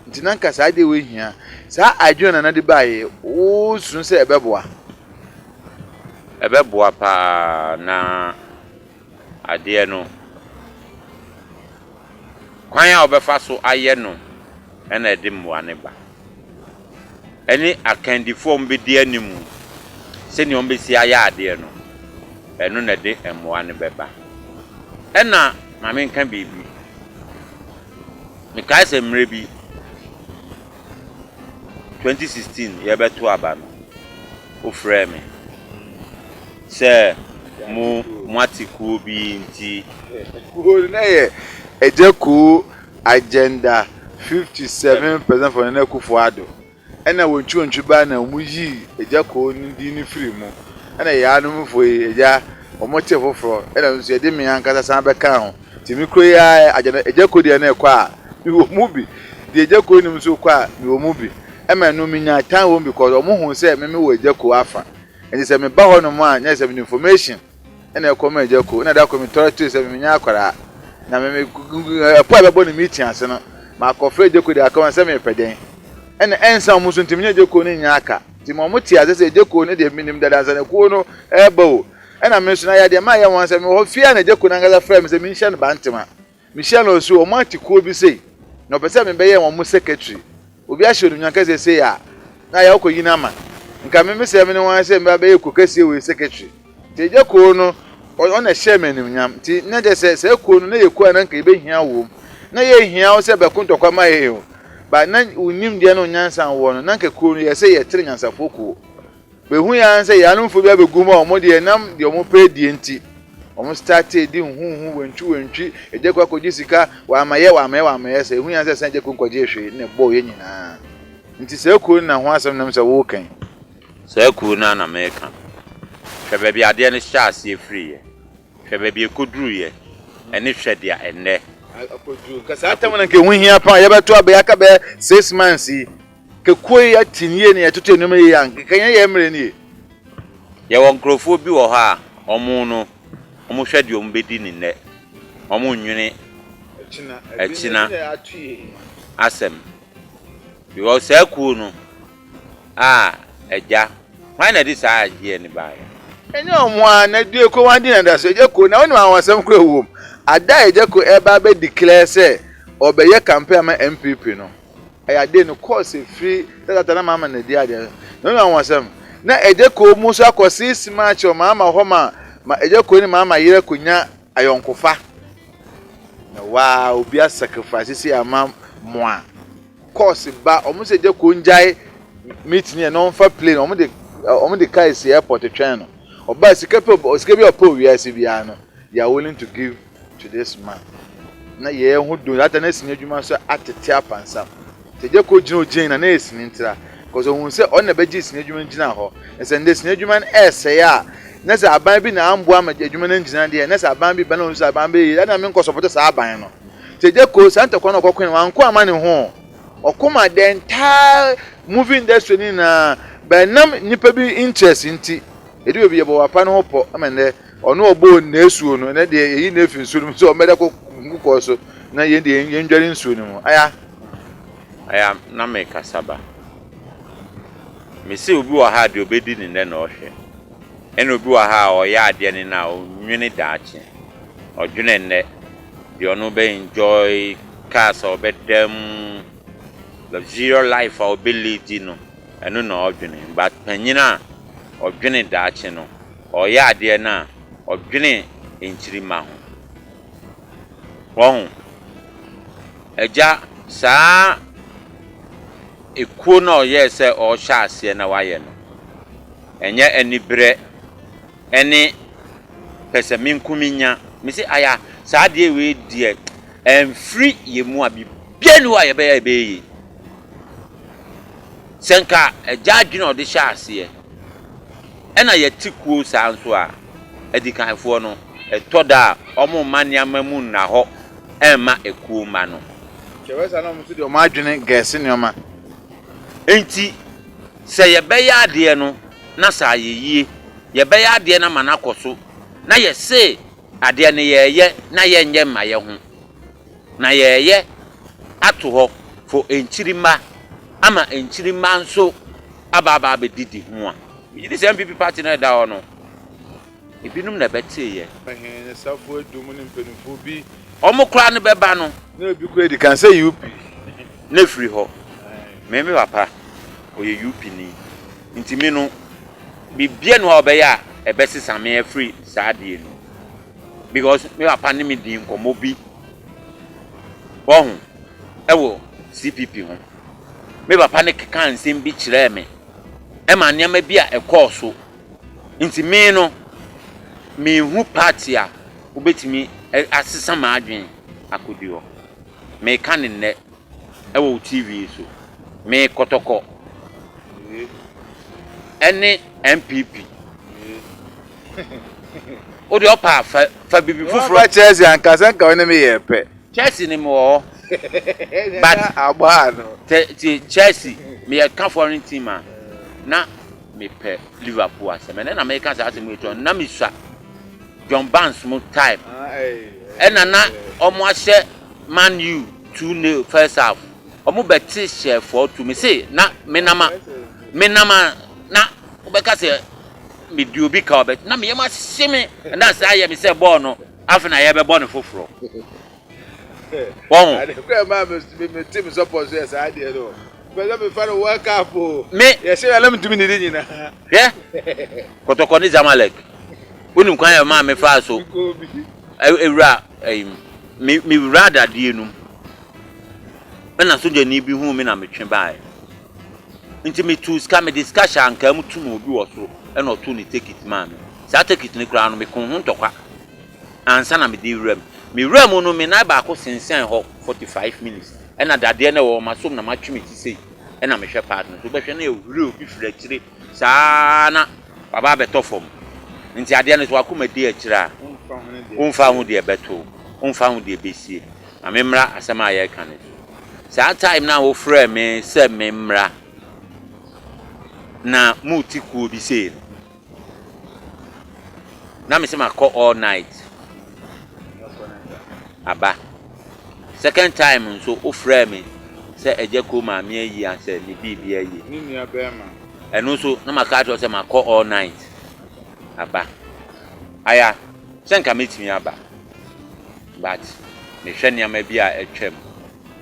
Nti na nka saa adeɛ wei hia. Saa adwene na na de baeɛ wosu sɛ ɛbɛboa. Ɛbɛboa paa na adeɛ no, kwan a wobɛfa so ayɛ no na ɛde mmoa no ba. Ɛne akandifoɔ a wɔbɛdi anim, sɛdeɛ wɔbɛsi ayɛ adeɛ no, ɛno na ɛde mmoa no bɛba. Ɛna ma menka biribi. Mekae sɛ mmerɛ bi, 2016 yɛrebɛto aba no, wofrɛɛ me. Sɛ mo moate kuo bi nti. Kuo no na yɛ Agya Kuo Agenda 57 President for Nana Akufo Addo ɛna wɔn ntwirontwi baa na wɔn yii Agya Kuo no din no firii mu ɛna yaanom foɔ yi Agya wɔn tee foforɔ ɛna nso yɛde me ankasa san bɛkaa ho nti me kura yi ara Agya Agya Kuo deɛ na ɛkɔ a me wɔ mu bi deɛ Agya Kuo nim nso kɔ a me wɔ mu bi ɛma ɛno me nyaa tan wɔ mu bi kɔ wɔn huu sɛ me me wɔ Agya Kuo afa Enti sɛ meba hɔ nom a nyɛ sɛ mede information na ɛkɔ ma agya ko na da koro metɔre tue sɛ menyɛ akwadaa na me me ɛpo a ɛbɛbɔ ne meeting ase no makɔfrɛ agya ko de aka wɔn sɛ mepɛ dɛn ɛna ɛnsa wɔn so nti menyɛ agya ko no nyɛ aka nti ma wɔn te ase sɛ agya ko no deɛ menim dada nsa na kuo no ɛreba o ɛna me nso na yɛ adeɛ ma yɛ wɔn sɛ mewɔ hɔ fie a na agya ko no ankasa frɛ me sɛ menhyia no bantema Mehyia no nso, wɔn ate kuo bi sei, na wɔpɛ sɛ mebɛyɛ wɔn secretary. Obi ahyɛ animuonyam kɛseɛ sei a, na ayɛ wokɔ yini ama. Nka me me sɛ me ne wɔn sɛ me ba bɛyɛ kuo kɛseɛ wei secretary. Nti agya kuo no, ɔno na ɛhyɛɛ me animuonyam. Nti na kyerɛ sɛ, saa kuo no, na ɛyɛ kuo a na nka yɛbɛhia wɔ mu. Na yɛnhia wo sɛ bɛko ntɔkwa mma yɛn o, but na wo nimdeɛ ne wo nyansa a wowɔ no, na nka kuo no, yɛsɛ yɛtene nyansafoɔ kuo. Behui ara sɛ Yanomfo bi abegu hɔ a wɔn deɛ ɛnam deɛ wɔn pɛ adie nti wɔn startee di nhuhu, wantwi wantwi, agya kɔ akɔgye sika, wamayɛ wamayɛ wamayɛ saa, ehui ara sɛ san agya kuro nkɔgyee hwee na ɛbɔɔ yɛn nyinaa. Nti saa kuro no na ho asɛm nam sɛ woreka yi. Saa kuro no ara na mereka. Hwɛ baabi adeɛ no hyɛɛ aseɛ firiiɛ, hwɛ baabi ɛkɔduruiɛ, ɛne hwɛ deɛ ɛnnɛ akɔduru. Nka saa tam no anka ɛho hia paa, yɛbɛto abɛyɛ aka bɛyɛ six months yi Kekuo yi atim yie na yɛtoto nnoɔma yie a, nka yɛn yɛn mmerɛ nie. Yɛwɔ nkurɔfoɔ bi wɔ hɔ a, wɔn no, wɔn hwɛ deɛ wɔn bɛdi ne nnɛ, wɔn nnwene akyina asɛm. Because saa kuo no a agya, hwan na ɛde saa adeɛ no baeɛ? Ɛnyɛ wɔn ara, na due koraa wɔn adi no adaso. Agya Ko, na wonim anwansɛm koraa wɔ mu, ada a agya Ko ɛreba abɛ declare sɛ ɔbɛyɛ campaign ama NPP no, Ɛyɛ ade no kɔɔ sɛ firi tatata na maama na di adeɛ no na wɔn asɛm na ɛgye kɔɔ mu nso akɔ six march wɔ maama hɔ ma ma ɛgye kɔɔ ne maama yere akɔnya ayɔnkofa na waa obi a sacrifice si ama moa kɔɔse ba wɔn sɛ ɛgye kɔɔ ngyae meeting yɛ na wɔn fa plane wɔn de wɔn de kaa esi airport twɛn no ɔbaa sika pɛ sika bi a ɔpɛ wɔ wiase biara no they are willing to give. Today's man na yɛɛ ho do ata na sini edwuma so atsetse apansam. Tadze kor gyina ogyin na na yɛ sini ntsera cos ohun sɛ ɔno na bɛgyee sini edwuma no gyinaa hɔ. Na sɛ ndɛ sini edwuma no ɛɛsɛe a na sɛ aban bi na ammboa ma edwuma no anngyina deɛ na sɛ aban bi ba na ohun sɛ aban bɛyɛ yie a na me nnkɔ sɔpɔto saa aban no. Tadze kor saa ntɔkwa no ɔkɔkoe no ɔannkɔ amma ne ho oo, ɔko maa the entire movie industry no nyinaa but nam nyimpa bi interest ntsi. Edu beebi yɛbɔ wɔ apa no ho pɔ ma ndɛ Ɔno a ɔbɔɔ n'asuo no, ɛnɛ deɛ yɛyi no afi nsuo no mu sɛ ɔmmɛda kɔ nkokɔɔ so na yɛn deɛ yɛndware nsuo no mu. Aya. Aya, na mekasa ba. Mese obi wɔ ha a deɛ ɔbɛdi ne nnɛ na ɔhwɛ. Ɛna obi wɔ ha a ɔyɛ adeɛ ne nnɛ a ɔnnwene daakye. Ɔdwene nnɛ, deɛ ɔno bɛ enjoy, cars a ɔbɛda mu, luxurious life a ɔbɛ leadi no, ɛno na ɔdwene. But panyin a ɔdwene daakye no, ɔreyɛ adeɛ no a, ɔdwene nkyirimma ho. Wahu? Agya, saa ekuo no a ɔyɛɛ sɛ ɔrehyɛ aseɛ na wayɛ no, ɛnyɛ aniberɛ ne pɛsɛmenkominya. Mese, Aya, saa adeɛ wei deɛ, ɛmfiri yɛn mu a, biribiara nni hɔ a yɛbɛyɛ a ɛbɛyɛ yie. Sɛ nka agya adwene a ɔde hyɛɛ aseɛ, Ɛna yɛte kuo saa nso a, adikanfoɔ no, ɛtɔ da a wɔmma nneɛma mu nna hɔ mma akuo mma no. Nti ɛbɛyɛ saa na wɔn nso de wɔn adwene gɛɛse nneɛma. Enti sɛ yɛbɛyɛ adeɛ no na sɛ ayɛ yie, yɛbɛyɛ adeɛ no ama no akɔ so, na yɛse adeɛ no yɛɛyɛ na yɛnyɛ mma yɛho. Na yɛɛyɛ ato hɔ fɔ nkyirimma ama nkyirimma nso aba aba abɛdidi ho a. Megye di sɛ NPP party no a ɛda hɔ no, ebinom na ɛbɛtee yɛ. He ne safoɔ edu mu ne mpaninfoɔ bi. Wɔn koraa no bɛba no. Na ebi koraa edi kan sɛ UP. Na efiri hɔ. Me me papa ɔyɛ UP ni nti me no biribiara nni hɔ a ɔbɛyɛ a ɛbɛsesa me afiri saa adeɛ no mu. Because me papa ne me dii nkɔmmɔ bi, wahu, wɔ CPP ho. Me papa no kekaa nsɛm bi kyerɛɛ me, ɛmaa nneɛma bi a ɛkɔɔ so. Nti me no, menhu party a wobɛtumi asesa m'adwene akɔdi hɔ. Meka no nnɛ, Ɛwɔ wo TV so. Me kɔtɔkɔ. Ɛne NPP. Wo deɛ ɔpa a fa fa bibi foforɔ. Waba Chelsea anka sɛ nka wo ne me yɛ pɛ. Chelsea ne me wɔ hɔ. But abɔ a no. Te te Chelsea me yɛ ka foreign team a na me pɛ Liverpool asɛm. Ɛnɛ na me ka saa asɛm yi to na me sua John Barnes mo type. Ɛna na ɔmo ahyɛ Man U. Tu ne first half ɔmo bɛ te hyɛ fɔɔ tu me se na me nama me nama na ɔbɛ ka sɛ me di obi ka ɔbɛ na me yɛ ma se me na saa yɛ me sɛ bɔɔl no afe na yɛ bɛ bɔ ne foforɔ wɔho. Ade kura maa me me me te me support so yɛ saa adeɛ no bɛ sɛ me fa no world cup o me yɛ se yɛ na me tumi ne de nyina hwɛ kɔtɔkɔ ne zamalek wonim kwan yɛ maa me faa so ewura Eim, me, mewuraa dadeɛ no mu. Ɛna sogyani bi huu me na metwe baeɛ. Nti metuu sika, mede sika hyɛ ankaa mu tum obi wɔ soro, ɛna ɔtoo ne tekit maa me. Saa tekit no koraa no, mekoo ho ntɔkwa ansa na mede rewura mu. Mewuraa mu no, me nan baako sensɛn hɔ 45 minutes. Ɛna dadeɛ no a ɛwɔ m'asom na matwe me ti sei, ɛna mehwɛ part no so. Wobɛhwɛ na ɛhuri obi firi akyire. Saa ara na waba abɛtɔ fam. Enti adeɛ no, sɛ w'akoma di akyire a, womfa ho deɛ ɛbɛto wo, womfa ho deɛ ɛbɛsie. Ma memmra asɛm a yɛreka no so. Saa time no a wofrɛɛ me sɛ memmra na morete kuo bi sei no, na mese makɔ all night aba. Second time nso wofrɛɛ me sɛ Agya Ko maame ayi asɛ ne biribia aye. Ne nua bɛɛma. Ɛno nso na maka akyerɛ wo sɛ makɔ all night aba. Aya sɛ nka mɛtumi aba but mehwɛ nneɛma bi a atwam.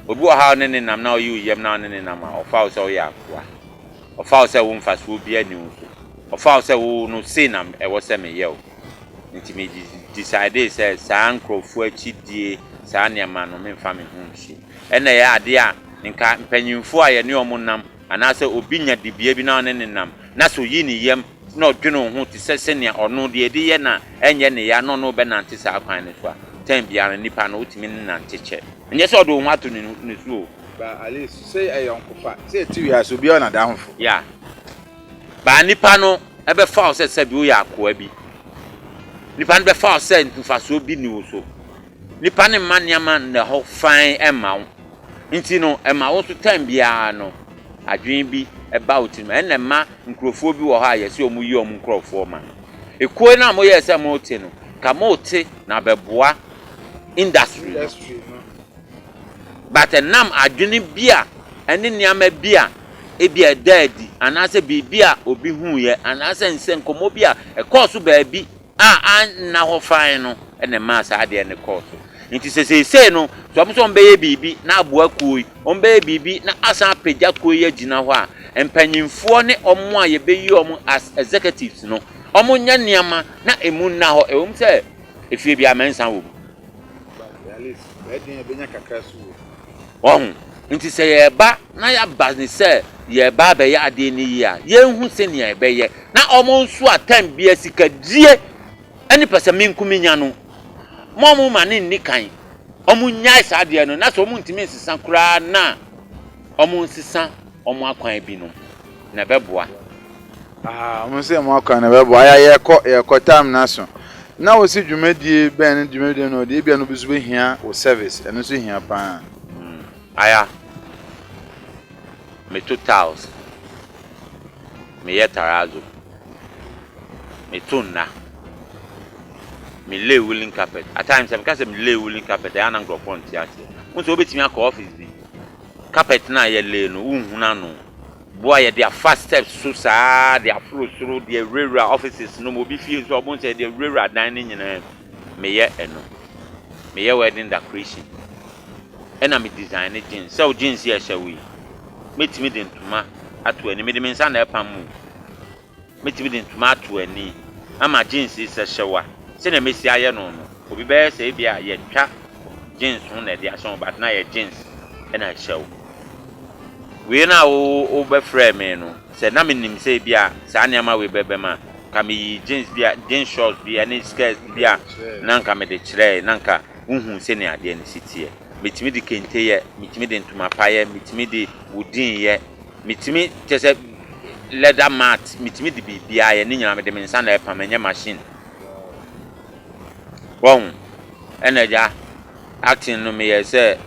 Obi wɔ ha a wo ne no nam na ɔye wo yam na wo ne no nam a ɔfa wo sɛ woyɛ akoa. Ɔfa wo sɛ wo mfasoɔ biara nni wo so. Ɔfa wo sɛ wo no sei na ɛwɔ sɛ meyɛ wo. Nti me decidee sɛ saa nkorɔfoɔ akyi die saa nneɛma no memfa me ho nsi. Ɛna ɛyɛ adeɛ a nka mpanyinfoɔ a yɛne wɔn nam anaa sɛ obi nya dibea bi na ɔne no nam na sɛ oyi ne yam na ɔdwene wo ho te sɛ sɛnea ɔno deɛ ɛde yɛ na ɛnyɛ ne ya na ɔne wo bɛnante saa kwan no so a time biara no nipa no wotumi ne nante kyɛ. Ɛnyɛ sɛ ɔde wo ho ato ne so o. Ba Alice, sɛ ayɔnkofa, sɛ ɛte wiase obiara wɔ n'adamfo. Yeah. Ba nipa no ɛbɛfa wo sɛ sɛbi woyɛ akoa bi. Nipa no bɛfa wo sɛ mfasoɔ bi ni wo so. Nipa no mma nneɛma nnɛ hɔ fann mma wo. Nti no, ɛma wo nso time biara no adwene bi ba wo tirim. Ɛna ɛma nkurɔfoɔ bi wɔ hɔ a yɛse wɔn yi wɔn nkurɔfoɔ ma. Ekuo no a moyɛɛ sɛ mote no, nka mote na bɛboa industry no. But ɛnam adwene bi a ɛne nneɛma bi a ebia ɛdaa adi anaasɛ biribi a obi huiɛ anaasɛ nsɛnkɔmmɔ bi a ɛkɔɔ so baabi a anna hɔ fann no na ɛmaa saa adeɛ no kɔɔ so. Nti sɛ seesei no sɛ wɔn sɛ wɔbɛyɛ biribi na aboa kuo yi, wɔbɛyɛ biribi na asan apagya kuo yi agyina hɔ a, mpanimfoɔ ne wɔn a yɛbɛyi wɔn as executives no, wɔnyɛ nneɛma na ɛmu nna hɔ. Ɛwom sɛ efie biara mɛnsa wɔ mu. Wahu? Enti sɛ yɛreba na yɛaba ne sɛ yɛreba abɛyɛ adeɛ no yie a, yɛnhu sɛnea ɛbɛyɛ na wɔn nso a time biara sikadie ne pɛsɛmenkominya no, ma wɔmma no nni kan. Wɔnnyae saa adeɛ no, na sɛ wɔntumi nsesa koraa no a, wɔnsesa. Wɔn akwan binom na ɛbɛboa. Ahaa wɔn sɛ wɔn akwan na ɛbɛboa ayɛ a yɛrekɔ yɛrekɔ time no aso na wɔsi dwumadie bɛn ne dwumadie bɛn na ɔde ebia no bi nso bɛhia wɔ service ɛno nso hia paa. Hmm aya me to tiles me yɛ tarazo me to nna me lay woolen carpet at times sɛ me ka sɛ me lay woolen carpet ɛyɛ a na nkorɔfoɔ nte aseɛ wɔn sɛ wɔbɛtumi akɔ office bi Carpet no a yɛ lay no, wo nhunu ano. Bo a yɛde afa steps so saa de aforo soro, de awurawura offices no mu, obi fie nso a ɔbon sɛ yɛde awurawura adan no nyinaa mu. Me yɛ ɛno. Me yɛ wedding decoration. Ɛna me design ne jeans. Sɛ wo jeans yi a ɛhyɛ wo yi, mɛtumi de ntoma ato ani. Me de me nsa na ɛpam mu. Mɛtumi de ntoma ato ani ama jeans yi sɛ hyɛ wa. Sɛnea mɛsi ayɛ no no, obi bɛyɛ sɛ ebia yɛtwa jeans no na ɛde ahyɛ wo but na yɛ jeans na ɛhyɛ wo. Wei no a wobɛfrɛɛ me no, sɛ na menim sɛ ebia saa nneɛma wei bɛbam a, nka meyii jeans bi a, jeans shorts bi ne skirt bi a na nka mede kyerɛɛe na nka wohuu sɛnea adeɛ no si teɛ. Mɛtumi de kente yɛ, mɛtumi de ntoma pa yɛ, mɛtumi de wooden yɛ, Metumi kyerɛ sɛ leather mat metumi de biribiara ayɛ ne nyinaa mede me nsa na ɛpam ɛnyɛ machine wahu ɛna agya acting no meyɛɛ sɛ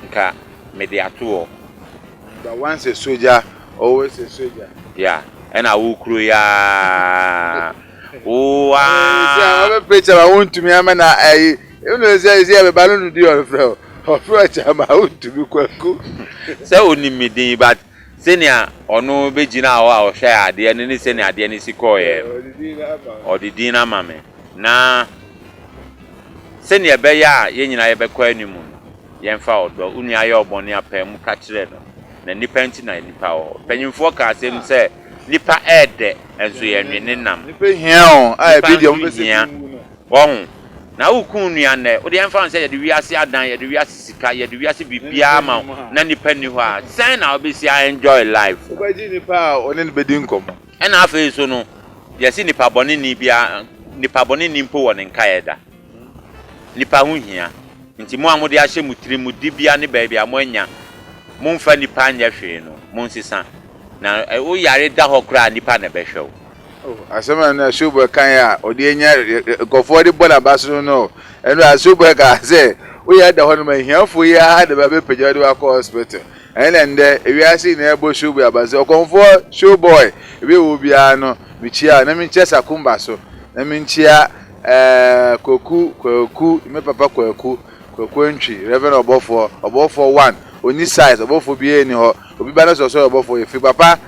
nka mede ato hɔ. But once a soldier always a soldier. Yeah ɛna wo kuro yi aa. Oaah. Ɔbɛ preacher ma wo ntumi ama na ayi ɛnu sɛ ɛsɛ yɛ bɛba no nudi ɔfrɛ o ɔfrɛ ɔkyɛ ma wo ntumi kwaku. Sɛ onim me din but sɛnea ɔno bɛgyinaa hɔ a ɔhwɛɛ adeɛ no ne sɛnea adeɛ no si kɔeɛ no ɔde din no ama me na sɛnea ɛbɛyɛ a yɛn nyinaa yɛbɛkɔ anim no yɛmfa ɔdɔ, wo nua yɛ wo bɔne a pae mu ka kyerɛ no na nnipa nti na nnipa wɔ hɔ. Mpanyimfoɔ ka asɛm sɛ. Nnipa yɛ dɛ nso yɛ nwene nam. Nnipa hia o, a ɛbɛ deɛ wɔn pɛ sɛ bi wu no. Wahu? Na wo ku nua nnɛ, wo deɛ ɛmfa ho sɛ yɛde wiase adan, yɛde wiase sika, yɛde wiase biribiara ma wo na nnipa nni hɔ a, sɛn na wo bɛsi a enjoy life? Wo bɛgye nnipa a wo ne no bɛdi nkɔmmɔ. Ɛna afei nso no, yɛse nnipa bɔne nni biara, nnipa bɔne nni mpo wɔ ne nkaeɛ da. Nnipa ho hia, enti mo a mode ahyɛ mo tirim mo dibea ne baabi a moanya momfa nnipa nyɛ hwee no, monsesa, na wo yare da hɔ koraa a, nnipa na ɛbɛhwɛ wo. Oh, asɛm a na Schuber kae a ɔde anya nkurɔfoɔ de bɔ n'abasene no, ɛno a Schuber kaa sɛ, wo yare da hɔ nom a, ahiafoɔ yi ara na bɛbɛpagya wo de wo akɔ hospital. Ɛno na nnɛ wiase nyinaa ɛbɔ Schuber abasene sɛ, ɔkɔmfoɔ, Schuboy, ebi a ɛwɔ biara no, mekyia wo, na menkyia Sakumba so, na menkyia. Ɛɛ Kwaku, Kwaku, me papa Kwaku, Kwaku Antwi, Rev. Ɔbɔfoɔ, Ɔbɔfoɔ one, ɔnni size, Ɔbɔfoɔ biara nni hɔ, obi ba na sɛ ɔsɛ ɔyɛ Ɔbɔfoɔ yɛ free, papa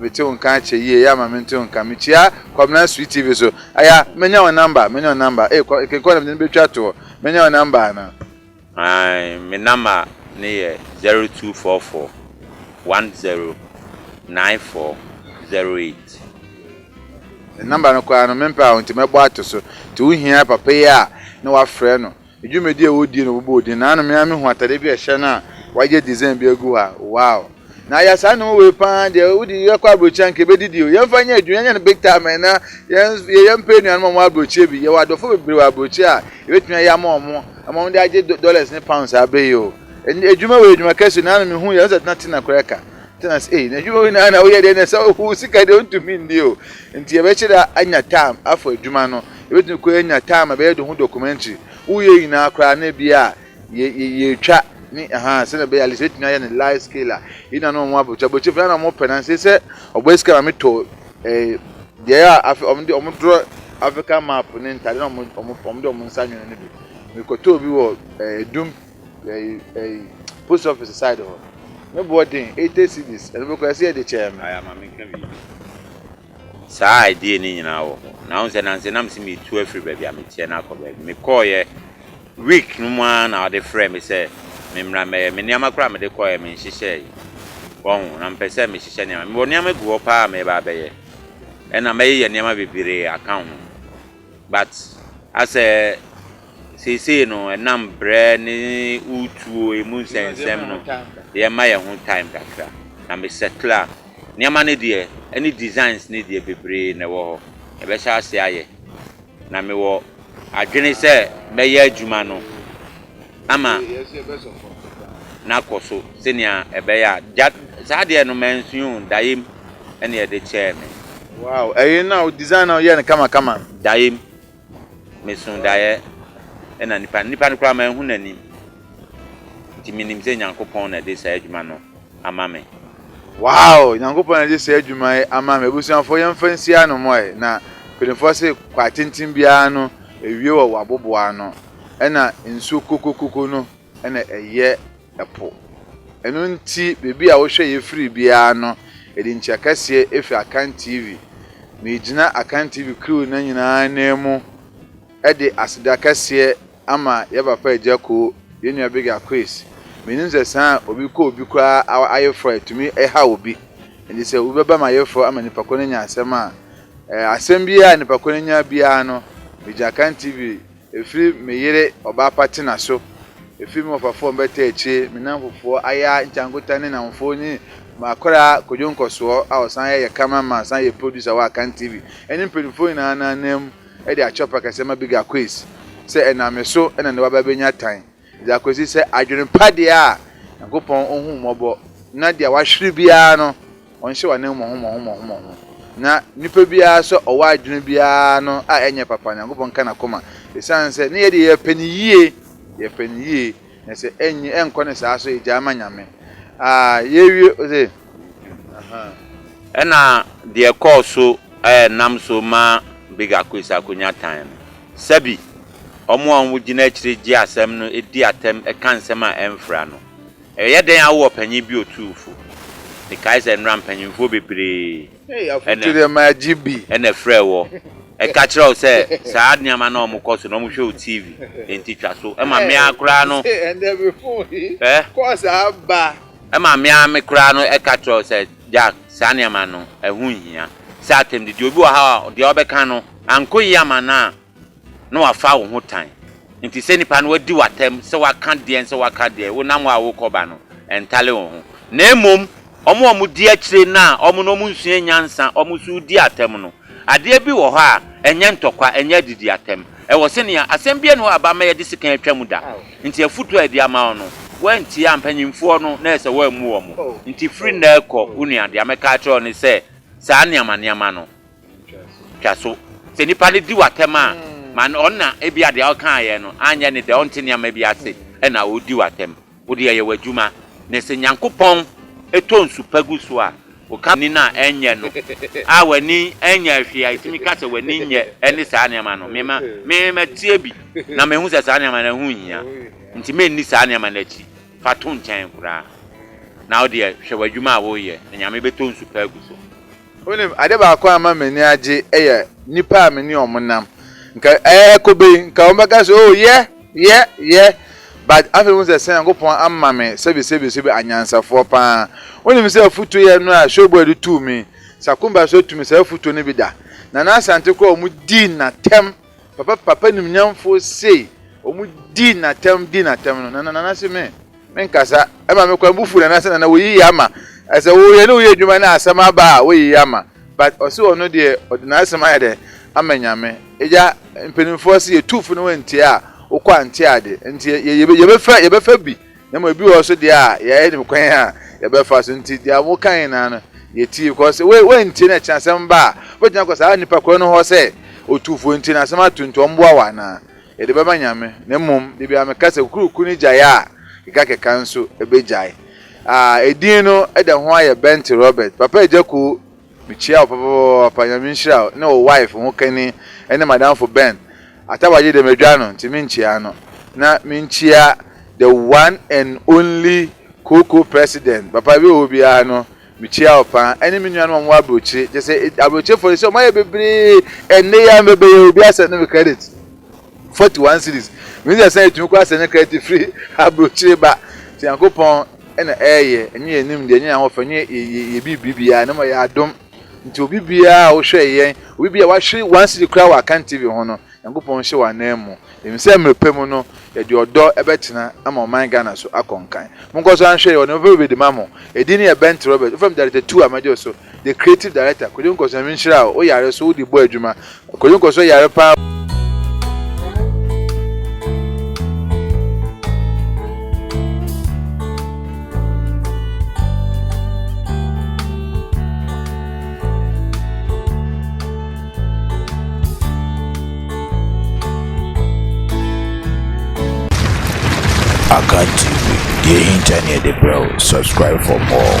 mete wo nka akyɛ yie, yɛ ama me nte wo nka, mekyia Kwabena Sweet TV so, aya, mɛnya wo number, mɛnya wo number, ee Kenkɔ na mede no bɛtwa toɔ, mɛnya wo number anaa? Ae me namba no yɛ zero two four four one zero nine four zero eight. Me namba no koraa no me mpɛ a nti mɛbɔ ato so nti wo hia papa yi a ne wa frɛ no ne dwumadi a ɔdi no bobɔ odin naano me ara me hu atade bi a ɛhyɛ no a wayɛ design bi agu hɔ a wow. Na ayɛ saa nnoɔma wei paa deɛ wode yɛkɔ aburokyire anka yɛbɛdidi o yɛmfa nyɛ adwuma yɛnyɛ no big time ɛna yɛ yɛmpɛ anuanom a wɔwɔ aburokyire bi yɛwɔ adɔfo bebree wɔ aburokyire a yɛbɛtumi ayɛ ama wɔn ama wɔn de agye dollars ne pounds saa bere yi o adwuma wei adwuma kɛse na ano mehu yɛ sɛ tena tena koraa ka tena sɛ ei na adwuma wei na na woyɛ deɛ na sɛ wo sika deɛ wontumi nni o nti yɛbɛkyerɛ anya time afɔ adwuma no yɛbɛtumi kɔ anya time a bɛyɛ de ho documentary woyɛ nyinaa koraa na bi a Yɛ yɛ yɛretwa ne ahaa sɛdeɛ ɛbɛyɛ at least mɛtumi ayɛ ne large scale a yɛn nuanom a wɔn abrɔkyɛ abrɔkyɛ fɛ na wɔn pɛ na nsɛ sɛ ɔbɔ sika na metɔ ɛɛ eh, deɛ a afɛ wɔn de wɔn dorɔ Africa map ne ntaade na wɔn wɔn wɔn de wɔn nsa nwene no bi mekɔtɔ obi wɔ ɛɛ eh, dum ɛɛ eh, ɛɛ post office side hɔ ne boɔ den eighty cedis ɛno bɛkɔ ɛsɛ yɛ de kyɛɛ no. ayama me nka biribi saa idea ne nyinaa wɔ hɔ na wɔn sɛ nansi nam si mi tu afiri baabi a meteɛ na akɔ baabi mekɔɔ yɛ. Week no mu ara na ɔde frɛɛ me sɛ memmra mmɛyɛ. Me nneɛma koraa a mede kɔeɛ menhyehyɛeɛ. Wahu? Na mepɛ sɛ mehyehyɛ nneɛma. Mewɔ nneɛma gu hɔ paa a mereba abɛyɛ. Ɛna mɛyeyɛ nneɛma bebree aka ho. But asɛ seesei no ɛnam berɛ ne wo tuo ɛmu nsɛnsɛm no, yɛmma yɛn ho time kakra. Na me settle a, nneɛma no deɛ ɛne designs no deɛ bebree na ɛwɔ hɔ. Yɛbɛhyɛ aseɛ ayɛ. Na mewɔ adwene sɛ mɛyɛ adwuma no ama no akɔ so sɛnea ɛbɛyɛ a gya saa deɛ no mansua o, Dayim na ɛde kyɛɛ me. Wow, ɛyɛ no a wo design no a woyɛɛ no kama kama no. Dayim, meso daeɛ na nipa no, nipa no koraa manhu n'anim, nti menim sɛ Nyankopɔn na ɛde saa adwuma no ama me. Wow! Nyankopɔn na ɔde saa adwuma yi ama me. Abusuafoɔ yɛmfa nsi ano mɔ ɛ na mpaninfoɔ se kwaa tenten biara no ɛwie wɔ waboboa ano ɛna nsuo kokokoko no ɛna ɛyɛ ɛpo ɛno nti baabi a wohwɛ yɛ firi biara no yɛde nkyia kɛseɛ ɛfiri Akan TV megyina Akan TV crew no nyinaa nan mu ɛde aseda kɛseɛ ama yɛ papa agya koo yɛ nua big akoes menim sɛ saa a obi kɔ obi koraa awa ayeforɔ ɛtumi ɛhaw obi nti sɛ obi bɛba ma ayeforɔ ama nipa ko no nya asɛm a ɛɛ asɛm biaa a nipa ko no nya biaa no megya kan tv ɛfiri me yere ɔbaa pa tena so ɛfiri me wɔfafoɔ mbɛta akyire me namfofoɔ ayaa nkyankota ne namfoɔ ne makoraa kodwo nkɔsoɔ a ɔsan yɛ yɛ camera man ɔsan yɛ producer wɔ akan tv ɛne mpanyinfoɔ nyinaa nanam de akyerɛ ɔpɛ kɛse ma Big Akwes sɛ ɛnam me so na ne babaa bɛnya tan de akɔsi sɛ adwene pa deɛ a Nyankopɔn ɔhu wo mmɔbɔ na deɛ wahwere biara no ɔnhyɛ w'anan mu mmɔho mmɔho mmɔho mmɔho na nipa biara sɛ ɔwɔ adwene biara no a ɛnyɛ papa Nyankopɔn ka n'akoma ɛsiane sɛ ne yɛ deɛ yɛpɛ no yie yɛpɛ no yie Na sɛ ɛnye ɛnkɔ ne saa so egyae ma Nyame. Ah, yɛawie ose, ahaa. Ɛna deɛ ɛkɔɔ so ɛɛ nam so ma Big Akoes akonya tan no, sɛbi, wɔn a wɔn gyina akyire gye asɛm no di atɛm ka nsɛm a ɛmfra no. Ɛyɛ dɛn a wowɔ panyin bi otuufo? Mekae sɛ nnora mpanyinfoɔ bebree. ɛna ɛfrɛɛ wɔ, ɛka kyerɛɛ wo sɛ saa nneɛma no a wɔkɔ so no, wɔhwɛ wo TV, enti twa so. Ɛma me ara koraa no, ɛma me ara me koraa no ɛka kyerɛ wo sɛ, Jack, saa nneɛma no, ɛho nhia. Sɛ atɛmdidi, obi wɔ ha a, deɛ ɔbɛka no, ankɔ yie amma no a, na wɔafa wo ho tan. Enti sɛ nnipa no adi wo atɛm sɛ woaka deɛn sɛ woaka deɛn, wonam hɔ a worekɔba no, ɛntale wo ho. Na mmom, wɔn a wɔdi akyire no a wɔn no wɔnsuaa nyansa, wɔn nso redi atɛm no, adeɛ bi wɔ hɔ a, ɛnyɛ ntɔkwa, ɛnyɛ adidi atɛm. Ɛwɔ sɛ nea, asɛm biara nni hɔ a ɛba ma yɛde sekan atwa mu da. Enti afotuo a yɛde ama wo no, woantie a, mpanimfoɔ no, na ayɛ sɛ woammu wɔn. Enti firi nnɛ rekɔ, wo nua, deɛ mɛka akyerɛ wo ne sɛ, saa nneɛma nneɛma no, Twa so. Sɛ nipa no di wo atɛm a, ma no ɔnna. Ebia deɛ ɔkaeɛ no anyɛ ne dɛ, ɔnte nneɛma bi ase na ɔredi wo atɛm. Wo deɛ yɛ w'adwuma. Na sɛ Nyankopɔn tɔ nsu pa gu so a, woka w'ani no a, ɛnyɛ no a w'ani nyɛɛ hwee a ɛtumi ka sɛ w'ani nyɛ ne saa nneɛma no. Me, me matie bi na mahu sɛ saa nneɛma no ɛho nhia, nti menni saa nneɛma no akyi. Fa to nkyɛn koraa. Na wo deɛ hwɛ w'adwuma a woreyɛ, na Nyame bɛtɔ nsu pa agu so. Wonim, ade baako a ɛma m'ani agye yɛ nnipa a me ne wɔn nam. Nka ɛrekɔ bɛ yi, nka wɔbɛka sɛ, Oh, yɛ, yɛ, yɛ. But afei mehu sɛ sɛ Nyankopɔn ama me sɛbisɛbisɛbi anyansafoɔ pa ara. Wonim sɛ afutuo yɛ no a Showboy de too me yi, Sakumba nso atu me saa afutuo no bi da. Nana Asante koraa wɔdii no atɛm Papa papa nimnyamfoɔ sei wɔn dii natɛm dii natɛm no nana nana se me me nkasa ɛma me kwan bu fu nana se nana wɔyi yɛ ama ɛsɛ wo yɛ ne wo yɛ adwuma na asɛm aba a wɔyi yɛ ama but ɔse ɔno deɛ ɔde n'asɛm ayɛ dɛ ama nyame egya mpanimfoɔ se yɛ tu fo ne wɔn ntie a wokɔ ante ade nti yɛ yɛ yɛbɛfa yɛbɛfa bi Na mmom ebi wɔ hɔ so deɛ a, yɛayɛ no kwan a yɛbɛfa so nti, deɛ wɔka nyinaa no, yɛtie. Because wei, woantie na ɛkyena asɛm ba a, wobɛtumi akɔ saa nnipa korɔ no hɔ sɛ, Otufoɔ nti na asɛm ato nti ɔmmoa wo anaa? Yɛde bɛma Nyame. Na mmom, da biara meka sɛ, kukuruku no gyaeɛ a, kekakeka nso bɛgyae. Ah, edin no da ho ara yɛ Bentley Robert. Papa Agyakuo Mekyia wo papapapaapa nyame nhyira wo ne wo wife ho kani ɛne madamfo Ben atabagye deɛ madwa no nti menkyia no na menkyia the one and only koko president papa bi wɔ hɔ biara no mekyia wo paa ɛne me nuanom a wɔwɔ abrokyire kyɛ sɛ abrokyire fɔ de sɛ wɔayɛ bebree ɛnne yɛ a mɛbɛyɛ obi asɛ no me credit. Forty one cedis. Menim sɛ ɛsɛn ɛtumi kɔ asɛn ne kra ti firi abrokyire ba. Nti Nyankopɔn na ɛɛyɛ. Ɛnyɛ yɛn nimdeɛ, ɛnyɛ yɛn ahɔfɛ, ɛnyɛ yɛn biribi biara, na mmom ɛyɛ adom. Nti obi biara a wohwɛ yɛn, obi biara a wahwere one cedi koraa wɔ Akan TV ho no, Nyankopɔn nhyɛ wo anan mu. Yɛnim sɛ mmerɛ pa mu no, yɛde ɔdɔ bɛtena ama ɔman Ghana so akɔ nkan. Monkɔ so nhwɛ yɛn, wɔde me papa bi bɛdi ma mo. Ɛdin no yɛ Bent Robert. Wofrɛ me Director Two a, mɛgye wo so. The Creative Director, Kwadwo Nkɔsɔɔ Nyame nhyira wo, wo yare so wode bɔ adwuma. Kwadwo Nkɔsɔɔ yare paa. Akan TV, deɛ ɛhinta ne yɛde brɛ wo, subscribe for more.